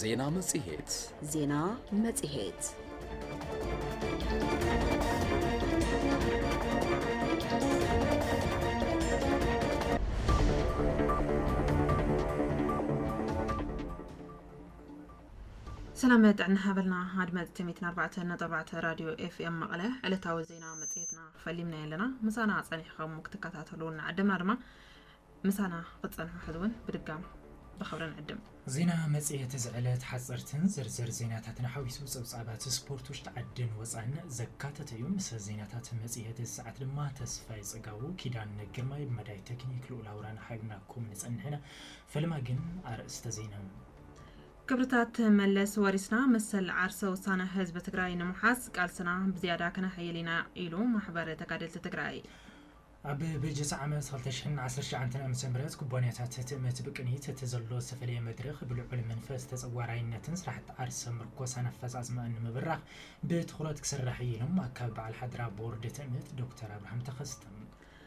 ዜና መጽሔት ዜና መጽሔት ሰላም ጥዕና ሃበልና ኣድመፅቲ ሚትን ኣርባዕተ ነጥቢ ኣርባዕተ ራድዮ ኤፍኤም መቐለ ዕለታዊ ዜና መፅሄትና ፈሊምናዮ ኣለና ምሳና ጸኒሕኻ እሞ ክትከታተሉ እናዓደምና ድማ ምሳና ክትጸንሑ ሕዚ እውን ብድጋም ብኽብሪ ንዕድም። ዜና መጽሔት እዚ ዕለት ሓጸርትን ዝርዝር ዜናታትን ሓዊሱ ጸብጻባት ስፖርት ውሽጢ ዓድን ወጻእን ዘካተተ እዩ። ምስ ዜናታት መጽሔት እዚ ሰዓት ድማ ተስፋይ ጽጋቡ፣ ኪዳነ ግርማይ፣ ብመዳይ ተክኒክ ልኡል ኣውራን ሓቢርናኩም ንጸንሕ ኢና። ፈለማ ግን ኣርእስተ ዜና። ክብርታት መለስ ወሪስና መሰል ዓርሰ ውሳነ ህዝቢ ትግራይ ንምሓዝ ቃልስና ብዝያዳ ከነሐይል ኢና ኢሉ ማሕበር ተጋደልቲ ትግራይ። ኣብ በጀት ዓመት ክልተ ሽሕን ዓሰርተ ትሽዓተ ዓመተ ምህረት ኩባንያታት ትእምት ብቅኒት እቲ ዘሎ ዝተፈለየ መድረኽ ብልዑል መንፈስ ተፀዋራይነትን ስራሕቲ ዓርሰ ምርኮሳን ኣፈፃፅመኣን ንምብራኽ ብትኹረት ክስራሕ እዩ ኢሎም ኣካቢ በዓል ሓደራ ቦርድ ትእምት ዶክተር ኣብርሃም ተኸስተ።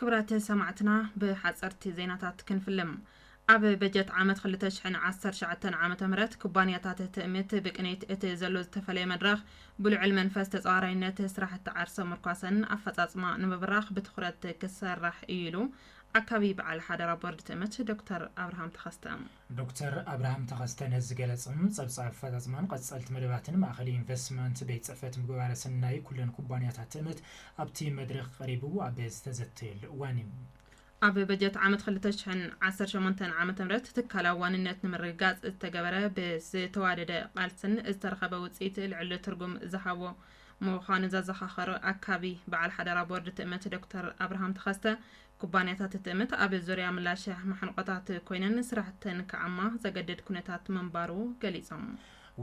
ክብራት ሰማዕትና ብሓፀርቲ ዜናታት ክንፍልም ኣብ በጀት ዓመት 219 ዓ ም ኩባንያታት ትእምት ብቅኒት እቲ ዘሎ ዝተፈለየ መድረኽ ብልዑል መንፈስ ተፃዋራይነት ስራሕቲ ዓርሰ ምርኳሰን ኣፈፃፅማ ንምብራኽ ብትኩረት ክሰራሕ እዩ ኢሉ ኣካቢ በዓል ሓደራ ቦርድ ትእምት ዶክተር ኣብርሃም ተኸስተ። ዶክተር ኣብርሃም ተኸስተ ነዚ ዝገለፆም ፀብፃብ ኣፈፃፅማን ቐፀልቲ መደባትን ማእኸል ኢንቨስትመንት ቤት ፅሕፈት ምግባረ ሰናይ ኩለን ኩባንያታት ትእምት ኣብቲ መድረኽ ቐሪቡ ኣብ ዝተዘተየሉ እዋን ዩ። ኣብ በጀት ዓመት ክልተ ሽሕን ዓሰርተ ሸሞንተን ዓመተ ምህረት ትካላዊ ዋንነት ንምርግጋፅ ዝተገበረ ብዝተዋደደ ቓልስን ዝተረኸበ ውፅኢት ልዕሊ ትርጉም ዝሃቦ ምዃኑ ዘዘኻኸሩ ኣካቢ በዓል ሓደራ ቦርድ ትእምት ዶክተር ኣብርሃም ተኸስተ፣ ኩባንያታት ትእምት ኣብ ዙርያ ምላሸ ማሕንቖታት ኮይነን ስራሕተን ክዓማ ዘገድድ ኩነታት ምንባሩ ገሊፆም።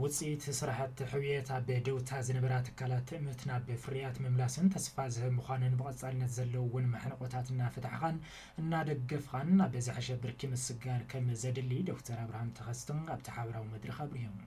ውፅኢት ስራሕቲ ሕውየት ኣብ ደውታ ዝነበራ ትካላት ትእምት ናብ ፍርያት ምምላሰን ተስፋ ዝህብ ምዃኑን ብቐፃልነት ዘለውወን ማሕንቖታት እናፈታሕኻን እናደገፍኻን ናብ ዝሐሸ ብርኪ ምስግጋር ከምዘድሊ ዶክተር ኣብርሃም ተኸስተ ኣብቲ ሓበራዊ መድረኽ ኣብሪሆም።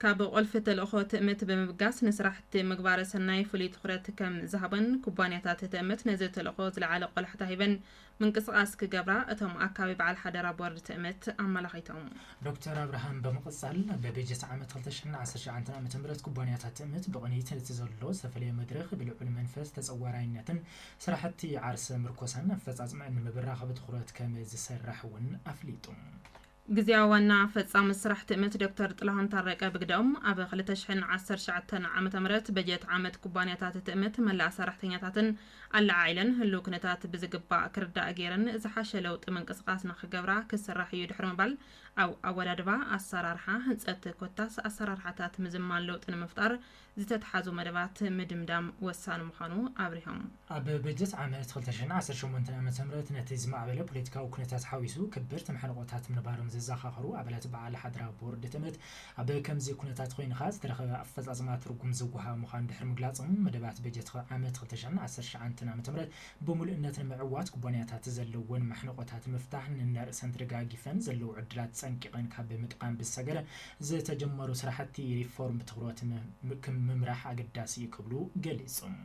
ካብ ቁልፊ ተልእኾ ትእምት ብምብጋስ ንስራሕቲ ምግባረ ሰናይ ፍሉይ ትኹረት ከም ዝሃቦን ኩባንያታት ትእምት ነዚ ተልእኾ ዝለዓለ ቆላሕታ ሂበን ምንቅስቓስ ክገብራ እቶም ኣካቢ በዓል ሓደራ ቦርድ ትእምት ኣመላኺቶም። ዶክተር ኣብርሃም ብምቕፃል፣ ኣብ በጀት ዓመት ክልተ ሽሕን ዓሰርተ ሸውዓንተን ዓመተ ምህረት ኩባንያታት ትእምት ብቕኒት ነቲ ዘሎ ዝተፈለየ መድረኽ ብልዑል መንፈስ ተፀዋራይነትን ስራሕቲ ዓርሰ ምርኮሳን ኣፈፃፅመኣን ንምብራኽ ብትኹረት ከም ዝስራሕ እውን ኣፍሊጦም። ግዝያዊ ዋና ፈፃሚ ስራሕ ትእምት ዶክተር ጥላሁን ታረቀ ብግደኦም፣ ኣብ ክልተ ሽሕን ዓሰርተ ትሽዓተን ዓመተ ምህረት በጀት ዓመት ኩባንያታት ትእምት መላእ ሰራሕተኛታተን ኣለዓዒለን ህልው ኩነታት ብዝግባእ ክርዳእ ገይረን ዝሓሸ ለውጢ ምንቅስቓስ ንክገብራ ክስራሕ ኢዩ ድሕሪ ምባል ኣብ ኣወዳድባ፣ ኣሰራርሓ፣ ህንፀት ኮታስ ኣሰራርሓታት ምዝማን ለውጢ ንምፍጣር ዝተትሓዙ መደባት ምድምዳም ወሳኒ ምዃኑ ኣብሪሆም። ኣብ በጀት ዓመት ክልተ ሽሕን ዓሰርተ ሸሞንተን ዓ ም ነቲ ዝማዕበለ ፖለቲካዊ ኩነታት ሓዊሱ ከበድቲ ማሕንቖታት ምንባሮም ዘዘኻኸሩ ኣባላት በዓል ሓደራ ቦርድ ትእምት፣ ኣብ ከምዚ ኩነታት ኮይንኻ ዝተረኸበ ኣፈፃፅማ ትርጉም ዝወሃቦ ምዃኑ ድሕሪ ምግላፆም፣ መደባት በጀት ዓመት ክልተ ሽሕን ዓሰርተ ትሽዓተን ዓ ም ብሙሉእነት ንምዕዋት ኩባንያታት ዘለወን ማሕንቖታት ምፍታሕ ነናርእሰን ተደጋጊፈን ዘለዉ ዕድላት ፀንቂቐን ካብ ምጥቓም ብዝሰገረ ዝተጀመሩ ስራሕቲ ሪፎርም ብትኹረት ምምራሕ ኣገዳሲ እዩ ክብሉ ገሊፆም።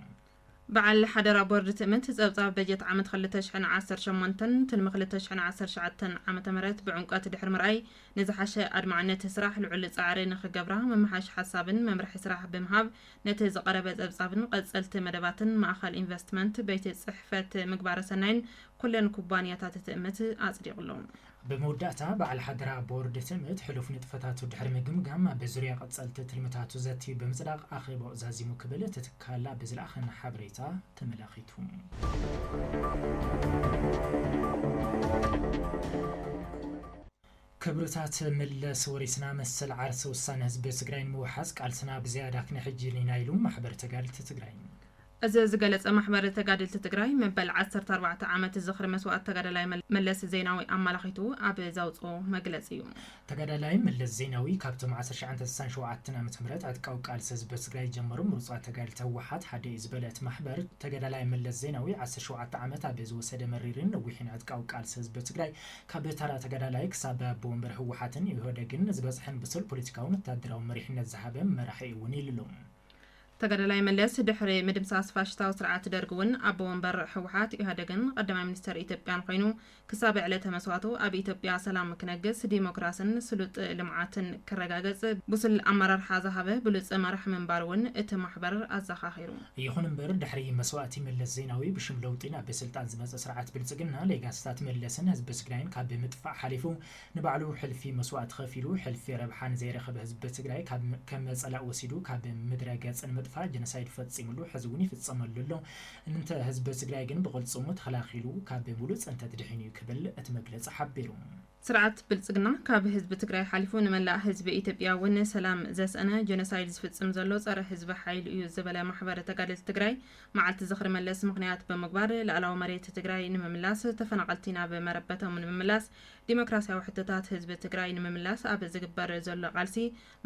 በዓል ሓደራ ቦርድ ትእምት ፀብፃብ በጀት ዓመት ክልተ ሽሕን ዓሰርተ ሸሞንተን ትልሚ ክልተ ሽሕን ዓሰርተ ትሽዓተን ዓመተ ምህረት ብዕምቀት ድሕሪ ምርኣይ ንዝሓሸ ኣድማዕነት ስራሕ ልዑል ፃዕሪ ንክገብራ መመሓሽ ሓሳብን መምርሒ ስራሕ ብምሃብ ነቲ ዝቐረበ ፀብፃብን ቐፀልቲ መደባትን ማእኸል ኢንቨስትመንት ቤት ፅሕፈት ምግባረ ሰናይን ኩለን ኩባንያታት ትእምት ኣፅዲቑሎም። ብመወዳእታ፣ በዓል ሓደራ ቦርድ ትእምት ሕሉፍ ንጥፈታቱ ድሕሪ ምግምጋም፣ ኣብ ዙርያ ቀጸልቲ ትልምታቱ ዘትዩ ብምጽዳቕ ኣኼባኡ ዛዚሙ ክብል እቲ ትካል ኣብ ዝለኣኸና ሓበሬታ ተመላኺቱ። ክብርታት መለስ ወሪስና፣ መሰል ዓርሰ ውሳነ ህዝቢ ትግራይ ንምውሓስ ቃልስና ብዘያዳ ክነሕይል ኢና ኢሉ ማሕበር ተጋደልቲ ትግራይ። እዚ ዝገለፀ ማሕበር ተጋደልቲ ትግራይ መበል ዓሰርተ ኣርባዕተ ዓመት ዝኽሪ መስዋእቲ ተጋዳላይ መለስ ዜናዊ ኣመላኺቱ ኣብ ዘውፅኦ መግለፂ ዩ። ተጋዳላይ መለስ ዜናዊ ካብቶም ዓሰርተ ትሽዓተ ስሳን ሸውዓተን ዓመተ ምህረት ዕጥቃዊ ቃልሲ ህዝቢ ትግራይ ጀምሩ ምሩፃት ተጋደልቲ ህወሓት ሓደ ዩ ዝበለ እቲ ማሕበር ተጋዳላይ መለስ ዜናዊ ዓሰርተ ሸውዓተ ዓመት ኣብ ዝወሰደ መሪርን ነዊሕን ዕጥቃዊ ቃልሲ ህዝቢ ትግራይ ካብ ተራ ተጋዳላይ ክሳብ ኣቦ ወንበር ህወሓትን ኢህወደግን ዝበፅሐን ብሱል ፖለቲካውን ወታደራውን መሪሕነት ዝሃበ መራሒ ውን ኢሉ። ተጋዳላይ መለስ ድሕሪ ምድምሳስ ፋሽስታዊ ስርዓት ደርግ እውን ኣቦ ወንበር ህወሓት፣ ኢህኣደግን ቐዳማይ ሚኒስተር ኢትዮጵያን ኾይኑ ክሳብ ዕለተ መስዋእቱ ኣብ ኢትዮጵያ ሰላም ክነግስ፣ ዲሞክራስን ስሉጥ ልምዓትን ክረጋገፅ ብሱል ኣመራርሓ ዝሃበ ብሉፅ መራሒ ምንባሩ እውን እቲ ማሕበር ኣዘኻኺሩ። ይኹን እምበር ድሕሪ መስዋእቲ መለስ ዜናዊ ብሽም ለውጢ ናብ ስልጣን ዝመፀ ስርዓት ብልፅግና ሌጋስታት መለስን ህዝቢ ትግራይን ካብ ምጥፋእ ሓሊፉ ንባዕሉ ሕልፊ መስዋእቲ ከፊሉ ሕልፊ ረብሓ ንዘይረኸበ ህዝቢ ትግራይ ካብ ከም ፀላእ ወሲዱ ካብ ምድረ ገፅ ንምጥፋእ ጀኖሳይድ ፈፂምሉ ሕዚ እውን ይፍፀመሉ ኣሎ እንተ ህዝቢ ትግራይ ግን ብቅልፅሙ ተኸላኺሉ ካብ ሙሉእ ፅንተት ድሒኑ እዩ ክብል እቲ መግለፂ ሓቢሩ። ስርዓት ብልፅግና ካብ ህዝቢ ትግራይ ሓሊፉ ንመላእ ህዝቢ ኢትዮጵያ እውን ሰላም ዘስእነ ጀኖሳይድ ዝፍፅም ዘሎ ፀረ ህዝቢ ሓይሊ እዩ ዝበለ ማሕበር ተጋደልቲ ትግራይ መዓልቲ ዝኽሪ መለስ ምኽንያት ብምግባር ልኣላዊ መሬት ትግራይ ንምምላስ ተፈናቐልቲ ናብ መረበቶም ንምምላስ ዲሞክራሲያዊ ሕቶታት ህዝቢ ትግራይ ንምምላስ ኣብ ዝግበር ዘሎ ቃልሲ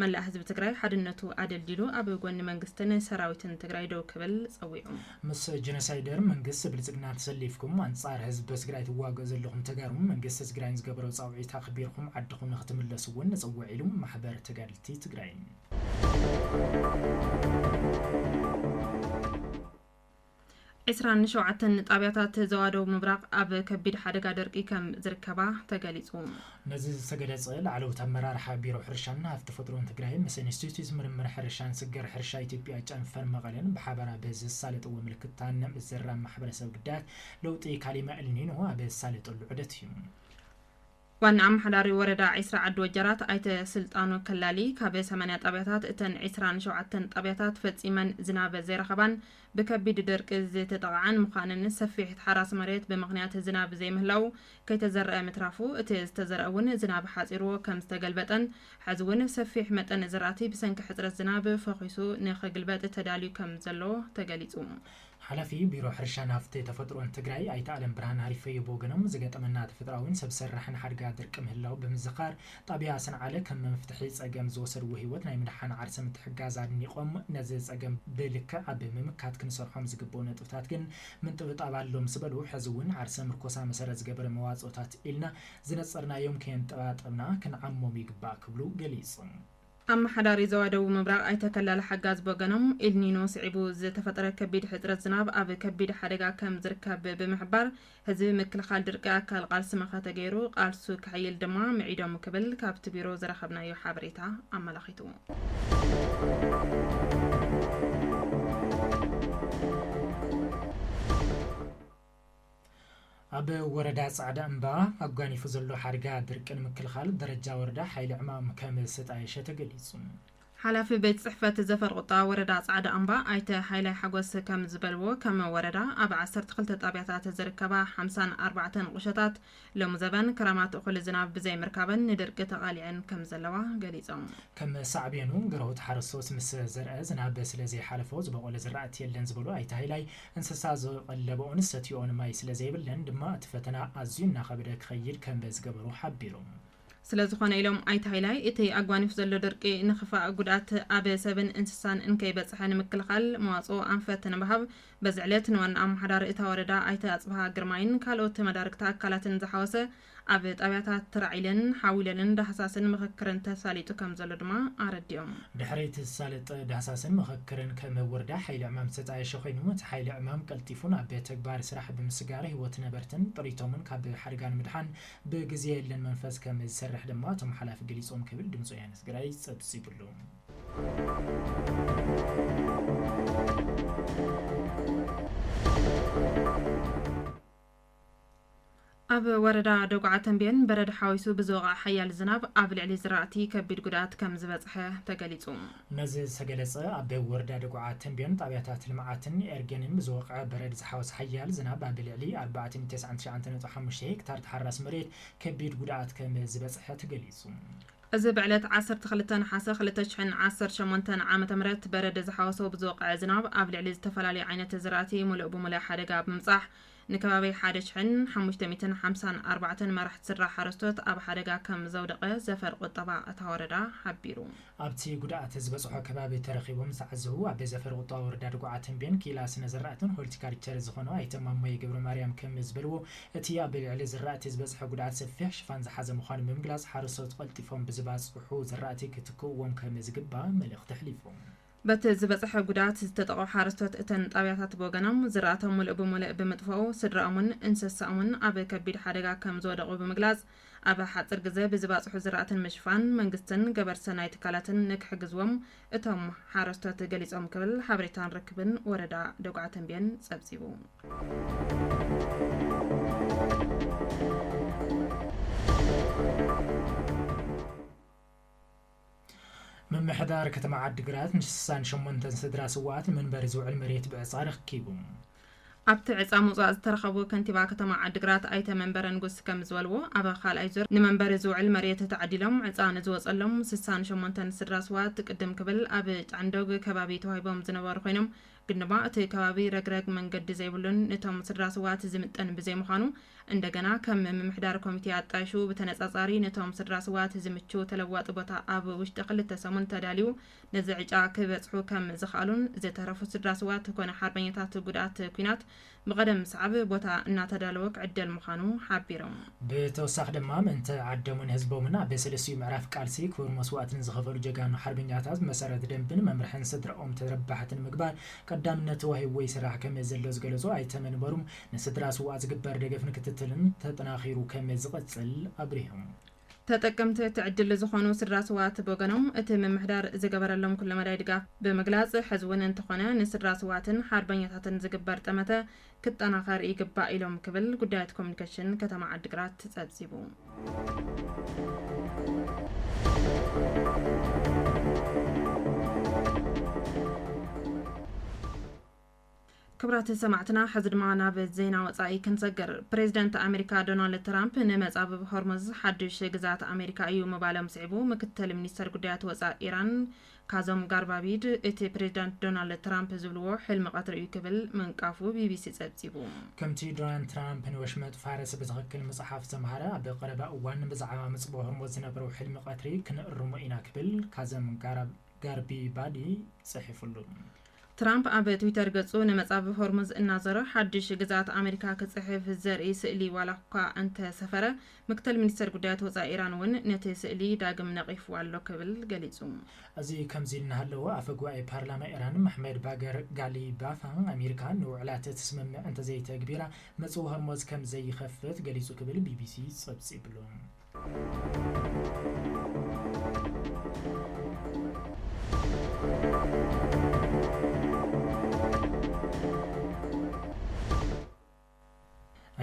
መላእ ህዝቢ ትግራይ ሓድነቱ ኣደልዲሉ ኣብ ጎኒ መንግስትን ሰራዊትን ትግራይ ደው ክብል ፀዊዑ። ምስ ጀኖሳይደር መንግስቲ ብልፅግና ተሰሊፍኩም ኣንፃር ህዝቢ ትግራይ ትዋገኡ ዘለኹም ተጋሩ መንግስቲ ትግራይ ንዝገበሮ ፃውዒት ኣኽቢርኹም ዓድኹም ንኽትምለሱ እውን ንፅውዕ ኢሉ ማሕበር ተጋደልቲ ትግራይ። ዕስራን ሸውዓተን ጣብያታት ዞባ ደቡብ ምብራቕ ኣብ ከቢድ ሓደጋ ደርቂ ከም ዝርከባ ተገሊፁ። ነዚ ዝተገለፀ ላዕለዎት ኣመራርሓ ቢሮ ሕርሻን ሃፍቲ ተፈጥሮን ትግራይ ምስ ኢንስቲትዩት ምርምር ሕርሻን ስግር ሕርሻ ኢትዮጵያ ጨንፈር መቐለን ብሓበራ ብዘሳለጥዎ ምልክታ ንምዝራብ ማሕበረሰብ ግዳያት ለውጢ ካሊማ ኤልኒኖ ኣብ ዘሳለጠሉ ዑደት እዩ። ዋና ኣመሓዳሪ ወረዳ ዒስራ ዓዲ ወጀራት ኣይተ ስልጣኑ ከላሊ ካብ ሰማንያ ጣብያታት እተን ዒስራን ሸውዓተን ጣብያታት ፈፂመን ዝናብ ዘይረኸባን ብከቢድ ደርቂ ዝተጠቐዓን ምዃነን ሰፊሕ ተሓራሲ መሬት ብምኽንያት ዝናብ ዘይምህላዉ ከይተዘረኣ ምትራፉ እቲ ዝተዘረኣ እውን ዝናብ ሓፂርዎ ከምዝተገልበጠን ሐዚ እውን ሰፊሕ መጠን ዝራእቲ ብሰንኪ ሕፅረት ዝናብ ፈኺሱ ንክግልበጥ ተዳልዩ ከምዘሎ ተገሊፁ። ሓላፊ ቢሮ ሕርሻን ሃፍቲ ተፈጥሮን ትግራይ ኣይተ ኣለም ብርሃን ሃሪፈዮ ብወገኖም፣ ዝገጠመና ተፈጥሮኣዊን ሰብ ሰራሕን ሓድጋ ድርቂ ምህላው ብምዝኻር፣ ጣብያ ሰንዓለ ከም መፍትሒ ፀገም ዝወሰድዎ ህይወት ናይ ምድሓን ዓርሰ ምትሕግጋዝ ኣድኒቖም፣ ነዚ ፀገም ብልክዕ ኣብ ምምካት ክንሰርሖም ዝግበኡ ነጥብታት ግን ምንጥብጣብ ኣሎ ምስ በሉ፣ ሕዚ እውን ዓርሰ ምርኮሳ መሰረት ዝገበረ መዋፅኦታት ኢልና ዝነፀርናዮም ከየንጠባጠብና ክንዓሞም ይግባእ ክብሉ ገሊፆም። ኣመሓዳሪ ዞባ ደቡብ ምብራቕ ኣይተ ከላለ ሓጋዝ ብወገኖም፣ ኢልኒኖ ስዒቡ ዝተፈጠረ ከቢድ ሕጽረት ዝናብ ኣብ ከቢድ ሓደጋ ከም ዝርከብ ብምሕባር፣ ህዝቢ ምክልኻል ድርቂ ኣካል ቓልሲ መኸተ ገይሩ ቓልሱ ከሕይል ድማ ምዒዶም ክብል ካብቲ ቢሮ ዝረኸብናዮ ሓበሬታ ኣመላኺቱ። ኣብ ወረዳ ፃዕዳ እምባ ኣጓኒፉ ዘሎ ሓድጋ ድርቂ ንምክልኻል ደረጃ ወረዳ ሓይሊ ዕማም ከምዝተጣየሸ ተገሊፁ። ሓላፊ ቤት ፅሕፈት ዘፈር ቁጠባ ወረዳ ፃዕዳ እምባ ኣይተ ሃይላይ ሓጎስ ከምዝበልዎ፣ ከም ወረዳ ኣብ ዓሰርተ ክልተ ጣብያታት ዝርከባ ሓምሳን ኣርባዕተን ቁሸታት ሎሚ ዘበን ክረማት እኹል ዝናብ ብዘይምርካበን ንድርቂ ተቓሊዐን ከምዘለዋ ገሊፆም። ከም ሳዕቤኑ ግረውት ሓረስቶት ምስ ዘርኣ ዝናብ ስለዘይሓለፎ ዝበቖለ ዝራእቲ የለን ዝበሉ ኣይተ ሃይላይ፣ እንስሳ ዝቐለበኦን ዝሰትይኦን ማይ ስለዘይብለን ድማ እቲ ፈተና ኣዝዩ እናኸበደ ክኸይድ ከምዝገበሮ ሓቢሮም። ስለዝኾነ ኢሎም ኣይተ ሃይላይ፣ እቲ ኣጓኒፉ ዘሎ ድርቂ ንኽፋእ ጉድኣት ኣብ ሰብን እንስሳን እንከይበፅሐ ንምክልኻል መዋፅኦ ኣንፈት ንምሃብ በዚ ዕለት ንዋና ኣመሓዳሪ እታ ወረዳ ኣይተ ኣፅብሃ ግርማይን ካልኦት መዳርግቲ ኣካላትን ዝሓወሰ ኣብ ጣብያታት ትራዒለን፣ ሓዊለልን ዳህሳስን ምኽክርን ተሳሊጡ ከምዘሎ ድማ ኣረዲኦም። ድሕሪ እቲ ዝሳለጠ ዳህሳስን ምኽክርን ከም ወረዳ ሓይሊ ዕማም ዝተጣየሸ ኮይኑ እቲ ሓይሊ ዕማም ቀልጢፉ ናብ ተግባር ስራሕ ብምስጋር ህይወት ነበርትን ጥሪቶምን ካብ ሓደጋ ንምድሓን ብግዜ የለን መንፈስ ከም ዝሰርሕ ድማ እቶም ሓላፊ ገሊፆም ክብል ድምፂ ወያነ ትግራይ ፀብፂቡሉ። ኣብ ወረዳ ደጉዓ ተምቤን በረድ ሓዊሱ ብዝወቕዐ ሓያል ዝናብ ኣብ ልዕሊ ዝራእቲ ከቢድ ጉድኣት ከምዝበፅሐ ተገሊፁ። ነዚ ዝተገለፀ ኣብ ወረዳ ደጉዓ ተምቤን ጣብያታት ልምዓትን ኤርጌንን ብዝወቕዐ በረድ ዝሓወሰ ሓያል ዝናብ ኣብ ልዕሊ ኣርባዕተ ሚእቲ ተስዓን ትሽዓተ ነጥቢ ሓሙሽተ ሄክታር ተሓራሲ መሬት ከቢድ ጉድኣት ከም ዝበፅሐ ተገሊፁ። እዚ ብዕለት ዓሰርተ ክልተ ነሓሰ ክልተ ሽሕን ዓሰርተ ሸሞንተን ዓመተ ምህረት በረድ ዝሓወሶ ብዝወቕዐ ዝናብ ኣብ ልዕሊ ዝተፈላለዩ ዓይነት ዝራእቲ ሙሉእ ብሙሉእ ሓደጋ ብምብፃሕ ንከባቢ ሓደ ሽሕን ሓሙሽተ ሚእትን ሓምሳን ኣርባዕተን መራሕቲ ስድራ ሓረስቶት ኣብ ሓደጋ ከም ዘውደቐ ዘፈር ቁጠባ እታ ወረዳ ሓቢሩ። ኣብቲ ጉድኣት ዝበፅሖ ከባቢ ተረኺቦም ዝተዓዘቡ ኣቤ ዘፈር ቁጠባ ወረዳ ድጉዓ ተምቤን ክኢላ ስነ ዘራእትን ሆልቲካልቸር ዝኾኑ ኣይተ ማሞየ ገብረማርያም ከም ዝበልዎ እቲ ኣብ ልዕሊ ዝራእቲ ዝበፅሐ ጉድኣት ሰፊሕ ሽፋን ዝሓዘ ምዃኑ ብምግላፅ ሓረስቶት ቐልጢፎም ብዝባፅሑ ዘራእቲ ክትክእዎም ከም ዝግባእ መልእኽቲ ኣሕሊፎም። በቲ ዝበፀሐ ጉድኣት ዝተጠቕዑ ሓረስቶት እተን ጣብያታት ብወገኖም ዝራእቶም ሙልእ ብሙልእ ብምጥፈኡ ስድራኦምን እንሰሰኦምን ኣብ ከቢድ ሓደጋ ከምዝወደቑ ብምግላፅ ኣብ ሓፅር ግዘ ብዝባፅሑ ዝራእቲ ንምሽፋን መንግስትን ገበር ሰናይ ትካላትን ንክሕግዝዎም እቶም ሓረስቶት ገሊፆም ክብል ሓበሬታን ርክብን ወረዳ ደጉዓ ተምቤን ፀብፂቡ። ምምሕዳር ከተማ ዓዲግራት ንስሳን ሸሞንተን ስድራ ስውኣት ንመንበሪ ዝውዕል መሬት ብዕፃ ኣረኪቡ። ኣብቲ ዕፃ ምውፃእ ዝተረኸቡ ከንቲባ ከተማ ዓዲግራት ኣይተ መንበረ ንጉስ ከምዝበልዎ፣ ኣብ ካልኣይ ዙር ንመንበሪ ዝውዕል መሬት ተዓዲሎም ዕፃ ንዝወፀሎም ስሳን ሸሞንተን ስድራ ስውኣት ቅድም ክብል ኣብ ጫንዶግ ከባቢ ተዋሂቦም ዝነበሩ ኮይኖም ግን ድማ እቲ ከባቢ ረግረግ መንገዲ ዘይብሉን ንቶም ስድራ ስውኣት ዝምጥን ብዘይምዃኑ እንደገና ከም ምምሕዳር ኮሚቴ ኣጣይሹ ብተነፃፃሪ ንቶም ስድራ ስውኣት ዝምችው ተለዋጢ ቦታ ኣብ ውሽጢ ክልተ ሰሙን ተዳልዩ ነዚ ዕጫ ክበፅሑ ከም ዝኸኣሉን ዝተረፉ ስድራ ስውኣት ኮነ ሓርበኛታት ጉድኣት ኩናት ንቐደም ምስዓብ ቦታ እናተዳለወ ክዕደል ምዃኑ ሓቢሮም። ብተወሳኺ ድማ ምእንተ ዓደሙን ህዝቦምን ኣብ ሰለስቲኡ ምዕራፍ ቃልሲ ክቡር መስዋእቲ ንዝኸፈሉ ጀጋኑ ሓርበኛታት ብመሰረት ደንብን መምርሕን ስድራኦም ተረባሕቲ ንምግባር ቀዳምነት ተዋሂብዎ ይስራሕ ከመዘሎ ዝገለፁ ኣይተ መንበሩ ንስድራ ስውኣት ዝግበር ደገፍን ክትትልን ተጠናኺሩ ከመዝቕፅል ኣብሪሆም። ተጠቀምቲ እቲ ዕድል ዝኾኑ ስድራ ስውኣት ብወገኖም እቲ ምምሕዳር ዝገበረሎም ኩለመዳይ ድጋፍ ብምግላፅ ሕዚ እውን እንተኾነ ንስድራ ስውኣትን ሓርበኛታትን ዝግበር ጠመተ ክጠናኸር ይግባእ ኢሎም ክብል ጉዳያት ኮሚኒኬሽን ከተማ ዓዲግራት ፀብፂቡ። ክብራት ሰማዕትና ሕዚ ድማ ናብ ዜና ወጻኢ ክንሰግር። ፕሬዚደንት ኣሜሪካ ዶናልድ ትራምፕ ንመጻብብ ሆርሙዝ ሓዱሽ ግዝኣት ኣሜሪካ እዩ ምባሎም ስዒቡ ምክትል ሚኒስተር ጉዳያት ወጻእ ኢራን ካዞም ጋርባቢድ እቲ ፕሬዚዳንት ዶናልድ ትራምፕ ዝብልዎ ሕልሚ ቀትሪ እዩ ክብል ምንቃፉ ቢቢሲ ጸብጺቡ። ከምቲ ዶናልድ ትራምፕ ንወሽመጥ ፋርስ ብትኽክል ምጽሓፍ ዘምሃረ ኣብ ቀረባ እዋን ብዛዕባ መጽብብ ሆርሙዝ ዝነበሮ ሕልሚ ቀትሪ ክንእርሞ ኢና ክብል ካዘም ጋርቢባዲ ጽሒፉሉ። ትራምፕ ኣብ ትዊተር ገጹ ንመጻብብ ሆርሙዝ እናዞረ ሓድሽ ግዝኣት ኣመሪካ ክጽሕፍ ዘርኢ ስእሊ ዋላ'ኳ እንተሰፈረ፣ ምክትል ሚኒስተር ጉዳያት ወጻኢ ኢራን እውን ነቲ ስእሊ ዳግም ነቒፍዎ ኣሎ ክብል ገሊጹ። እዚ ከምዚ እናሃለወ፣ ኣፈ ጉባኤ ፓርላማ ኢራን መሕመድ ባገር ጋሊባፍ፣ ኣመሪካ ንውዕላት እቲ ስምምዕ እንተዘይተግቢራ መጽብብ ሆርሙዝ ከምዘይኸፍት ገሊጹ ክብል ቢቢሲ ጸብጺብሉ።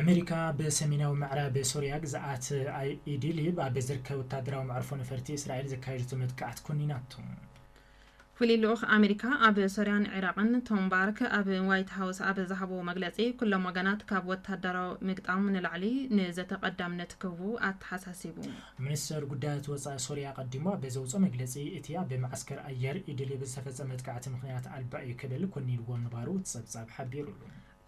ኣመሪካ ብሰሜናዊ ምዕራብ ሶርያ ግዝኣት ኢድሊብ ኣብ ዝርከብ ወታደራዊ መዕርፎ ነፈርቲ እስራኤል ዘካየደቶ መጥቃዕቲ ኰኒናቶ። ፍሉይ ልኡኽ ኣመሪካ ኣብ ሶርያን ዒራቕን ቶም ባርክ ኣብ ዋይት ሃውስ ኣብ ዝሃብዎ መግለጺ ኩሎም ወገናት ካብ ወታደራዊ ምግጣም ንላዕሊ ንዘተ ቀዳምነት ክህቡ ኣተሓሳሲቡ። ሚኒስተር ጉዳያት ወጻኢ ሶርያ ኣቐዲሙ ኣብ ዘውጽኦ መግለጺ እቲ ኣብ መዓስከር ኣየር ኢድሊብ ዝተፈጸመ መጥቃዕቲ ምኽንያት ኣልባ እዩ ክብል ኮኒንዎ ምንባሩ እቲ ጸብጻብ ሓቢሩሉ።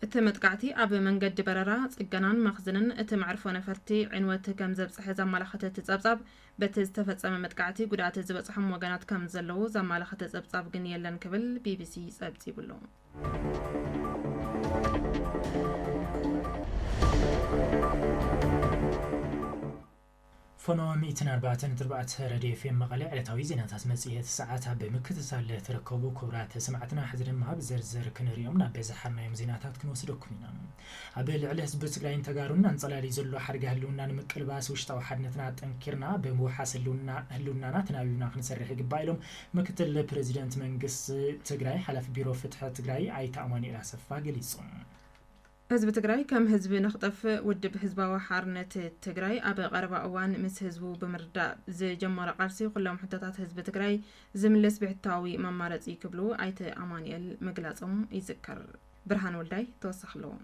እቲ መጥቃዕቲ ኣብ መንገዲ በረራ፣ ጽገናን መኽዝንን እቲ መዕርፎ ነፈርቲ ዕንወት ከምዘብጽሐ ዘመላኸተ እቲ ጸብጻብ፣ በቲ ዝተፈጸመ መጥቃዕቲ ጉድኣት ዝበጽሖም ወገናት ከም ዘለዉ ዘማላኸተ ጸብጻብ ግን የለን ክብል ቢቢሲ ጸብጺቡሉ። ፎኖ ሚእትን ኣርባዕተን ነጥቢ ኣርባዕተ ረድዮ ኤፍኤም መቐለ ዕለታዊ ዜናታት መጽሔት ሰዓት ኣብ ብምክትታል ትርከቡ ክቡራት ሰማዕትና፣ ሕዚ ድማ ብዝርዝር ክንሪኦም ናብ ዘሓርናዮም ዜናታት ክንወስደኩም ኢና። ኣብ ልዕሊ ህዝቢ ትግራይን ተጋሩን ኣንፀላልዩ ዘሎ ሓደጋ ህልውና ንምቅልባስ ውሽጣዊ ሓድነትና ኣጠንኪርና ብምውሓስ ህልውና ህልውናና ተናቢብና ክንሰርሕ ይግባእ ኢሎም ምክትል ፕረዚደንት መንግስቲ ትግራይ ሓላፊ ቢሮ ፍትሒ ትግራይ ኣይተ ኣማኑኤል ኣሰፋ ገሊፆም። ህዝቢ ትግራይ ከም ህዝቢ ንክጠፍእ ውድብ ህዝባዊ ሓርነት ትግራይ ኣብ ቀረባ እዋን ምስ ህዝቡ ብምርዳእ ዝጀመሮ ቃልሲ ኩሎም ሕቶታት ህዝቢ ትግራይ ዝምልስ ብሕታዊ መማረፂ ክብሉ ኣይተ ኣማኑኤል ምግላፆም ይዝከር። ብርሃን ወልዳይ ተወሳኺ ኣለዎ።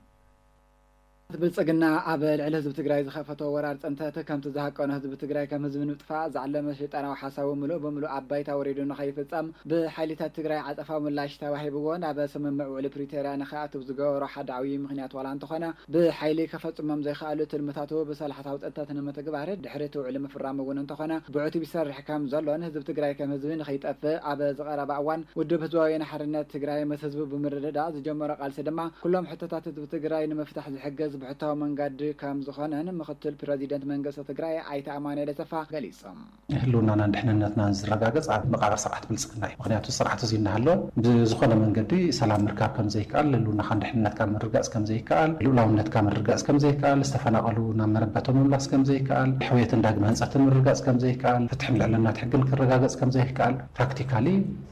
ብልፅግና ኣብ ልዕሊ ህዝቢ ትግራይ ዝኸፈቶ ወራር ፅንተት ከምቲ ዝሃቀኖ ህዝቢ ትግራይ ከም ህዝቢ ንምጥፋእ ዝዓለመ ሸይጣናዊ ሓሳቡ ምሉእ ብምሉእ ኣብ ባይታ ወሪዱ ንኸይፍፀም ብሓይሊታት ትግራይ ዓፀፋዊ ምላሽ ተዋሂብዎ ናብ ስምምዕ ውዕሊ ፕሪቶርያ ንኸኣትው ዝገበሮ ሓደ ዓብዪ ምኽንያት ዋላ እንተኾነ ብሓይሊ ከፈፅሞም ዘይኸኣሉ ትልምታቱ ብሰላሕታዊ ፅንተት ንምትግባር ድሕሪ እቲ ውዕሊ ምፍራሙ እውን እንተኾነ ብዕቱብ ይሰርሕ ከም ዘሎን ህዝቢ ትግራይ ከም ህዝቢ ንክይጠፍእ ኣብ ዝቐረባ እዋን ውድብ ህዝባዊ ወያነ ሓርነት ትግራይ ምስ ህዝቡ ብምርድዳእ ዝጀመሮ ቃልሲ ድማ ኩሎም ሕቶታት ህዝቢ ትግራይ ንምፍታሕ ዝሕግዝ ብሕታዊ መንገዲ ከም ዝኾነን ምኽትል ፕረዚደንት መንግስቲ ትግራይ ኣይተ ኣማኑኤል ኣሰፋ ገሊፆም። ህልውናናን ድሕንነትናን ዝረጋገፅ ኣብ መቓብር ስርዓት ብልፅግና እዩ። ምኽንያቱ ስርዓት እዙይ እናሃለወ ብዝኾነ መንገዲ ሰላም ምርካብ ከምዘይከኣል፣ ህልውናኻን ድሕንነትካን ምርግጋፅ ከምዘይከኣል፣ ልኡላውነትካ ምርግጋፅ ከምዘይከኣል፣ ዝተፈናቐሉ ናብ መረበቶም ምምላስ ከምዘይከኣል፣ ሕውየትን ዳግመ ህንፀትን ምርግጋፅ ከምዘይከኣል፣ ፍትሕን ልዕልናት ሕግን ክረጋገፅ ከምዘይከኣል ፕራክቲካሊ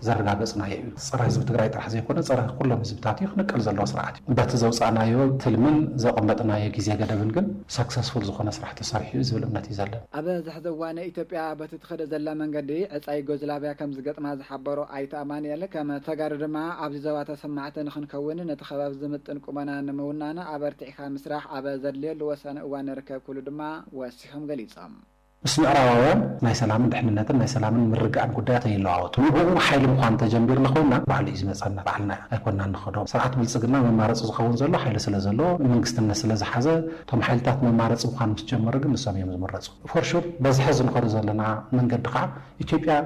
ዘረጋገፅናዮ እዩ። ፀረ ህዝቢ ትግራይ ጥራሕ ዘይኮነ ፀረ ኩሎም ህዝብታት እዩ። ክንቀል ዘለዎ ስርዓት እዩ። በቲ ዘውፃእናዮ ትልምን ዘቐመጥናዮ ግዜ ገደብን ግን ሰክሰስፉል ዝኾነ ስራሕ ተሰሪሑ እዩ ዝብል እምነት እዩ ዘለኒ። ኣብ ዝሐዚ እዋን ኢትዮጵያ በቲ ትኸዶ ዘላ መንገዲ ዕፃ ዩጎዝላቪያ ከምዝገጥማ ዝሓበሩ ኣይተ ኣማኑኤል ከም ተጋሩ ድማ ኣብዚ ዞባ ተሰማዕቲ ንኽንከውን ነቲ ኸባቢ ዝምጥን ቁመና ንምውናን ኣበርቲዕኻ ምስራሕ ኣብ ዘድልየሉ ወሳኒ እዋን ንርከብ ክብሉ ድማ ወሲኾም ገሊፆም። ምስ ምዕራባውያን ናይ ሰላምን ድሕንነትን ናይ ሰላምን ምርግኣን ጉዳያት ኣይለዋወጥን። ንዕኡ ሓይሊ ምዃን እንተጀምቢርና ኮይንና ባዕሉ እዩ ዝመፀና ባዕልና ኣይኮንናን ንኸዶ። ስርዓት ብልፅግና መማረፂ ዝኸውን ዘሎ ሓይሊ ስለ ዘለዎ ንመንግስትነት ስለ ዝሓዘ እቶም ሓይልታት መማረፂ ምዃን ምስ ጀመሩ ግን ንሶም እዮም ዝምረፁ። ፎር ሹር በዚ ሐዚ ንኸዶ ዘለና መንገዲ ከዓ ኢትዮጵያ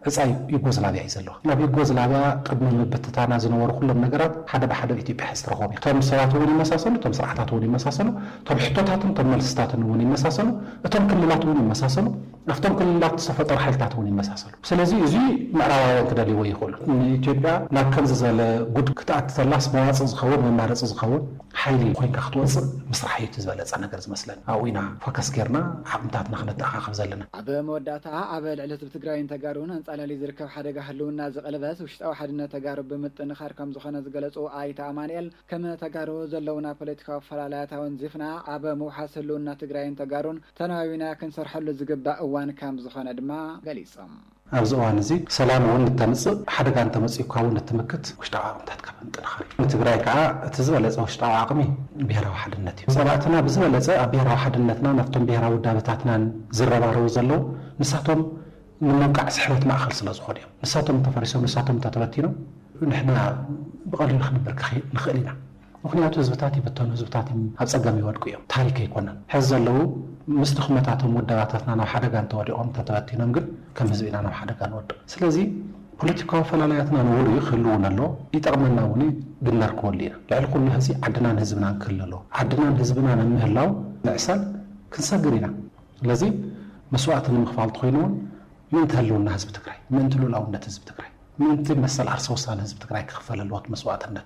ዕጻ ዩጎዝላቪያ እዩ ዘለዋ። ናብ ዩጎዝላቪያ ቅድሚ ምብትታና ዝነበሩ ኩሎም ነገራት ሓደ ብሓደ ኣብ ኢትዮጵያ ሕዚ ትረኽቦም እዮም። እቶም ሰባት እውን ይመሳሰሉ፣ እቶም ስርዓታት እውን ይመሳሰሉ፣ እቶም ሕቶታትን እቶም መልስታትን እውን ይመሳሰሉ፣ እቶም ክልላት እውን ይመሳሰሉ፣ ኣብቶም ክልላት ዝተፈጠሩ ሓይልታት እውን ይመሳሰሉ። ስለዚ እዚ ምዕራባውያን ክደልይዎ ይኽእሉ። ንኢትዮጵያ ናብ ከምዚ ዝበለ ጉድ ክትኣቲ ተላስ መዋጽእ ዝኸውን መማረጺ ዝኸውን፣ ሓይሊ ኮይንካ ክትወፅእ ምስራሕ እዩ እቲ ዝበለፀ ነገር ዝመስለኒ። ኣብኡ ኢና ፎከስ ገይርና ዓቕምታትና ክነተኣኻኽብ ዘለና። ኣብ መወዳእታ ኣብ ልዕሊ ህዝቢ ትግራይን ተጋሩን ኣንፃላልዩ ዝርከብ ሓደጋ ህልውና ዝቕልበስ ውሽጣዊ ሓድነት ተጋሩ ብምጥንኻር ከምዝኾነ ዝገለፁ ኣይተ ኣማንኤል፣ ከም ተጋሩ ዘለውና ፖለቲካዊ ኣፈላላያት ኣወንዚፍና ኣብ ምውሓስ ህልውና ትግራይን ተጋሩን ተናባቢና ክንሰርሐሉ ዝግባእ እዋን ከምዝኾነ ድማ ገሊፆም። ኣብዚ እዋን እዚ ሰላም እውን እተምጽእ፣ ሓደጋ እንተመጺኡካ እውን እትምክት ውሽጣዊ ዓቕምታትካ ብምጥንኻር እዩ። ንትግራይ ከኣ እቲ ዝበለጸ ውሽጣዊ ዓቕሚ ብሄራዊ ሓድነት እዩ። ጸላእትና ብዝበለጸ ኣብ ብሄራዊ ሓድነትናን ኣብቶም ብሄራዊ ውዳበታትናን ዝረባረቡ ዘለዉ ንሳቶም ንምውቃዕ ስሕበት ማእከል ስለ ዝኾኑ እዮም። ንሳቶም እንተፈሪሶም፣ ንሳቶም እንተተበቲኖም ንሕና ብቐሊሉ ክንብርክኽ ንኽእል ኢና። ምኽንያቱ ህዝብታት ይብተኑ፣ ህዝብታት ኣብ ጸገም ይወድቁ እዮም፣ ታሪክ ኣይኮነን። ሕዚ ዘለዉ ምስ ድኽመታቶም ውደባታትና ናብ ሓደጋ እንተወዲቖም እንተተበቲኖም ግን ከም ህዝቢ ኢና ናብ ሓደጋ ንወድቕ። ስለዚ ፖለቲካዊ ኣፈላላያትና ንቡር እዩ፣ ክህሉ እውን ኣለዎ፣ ይጠቕመና እውን እዩ፣ ግን ነርክበሉ ኢና። ልዕሊ ኩሉ ሕዚ ዓድናን ህዝብናን ክህሉ ኣለዎ። ዓድናን ህዝብናን ኣብ ምህላው ምዕሳል ክንሰግር ኢና። ስለዚ መስዋእቲ ንምኽፋል ተኾይኑ እውን ምእንቲ ህልውና ህዝቢ ትግራይ፣ ምእንቲ ልኡላውነት ህዝቢ ትግራይ፣ ምእንቲ መሰል ዓርሰ ውሳነ ህዝቢ ትግራይ ክኽፈል ኣለዎ እቲ መስዋእትነት።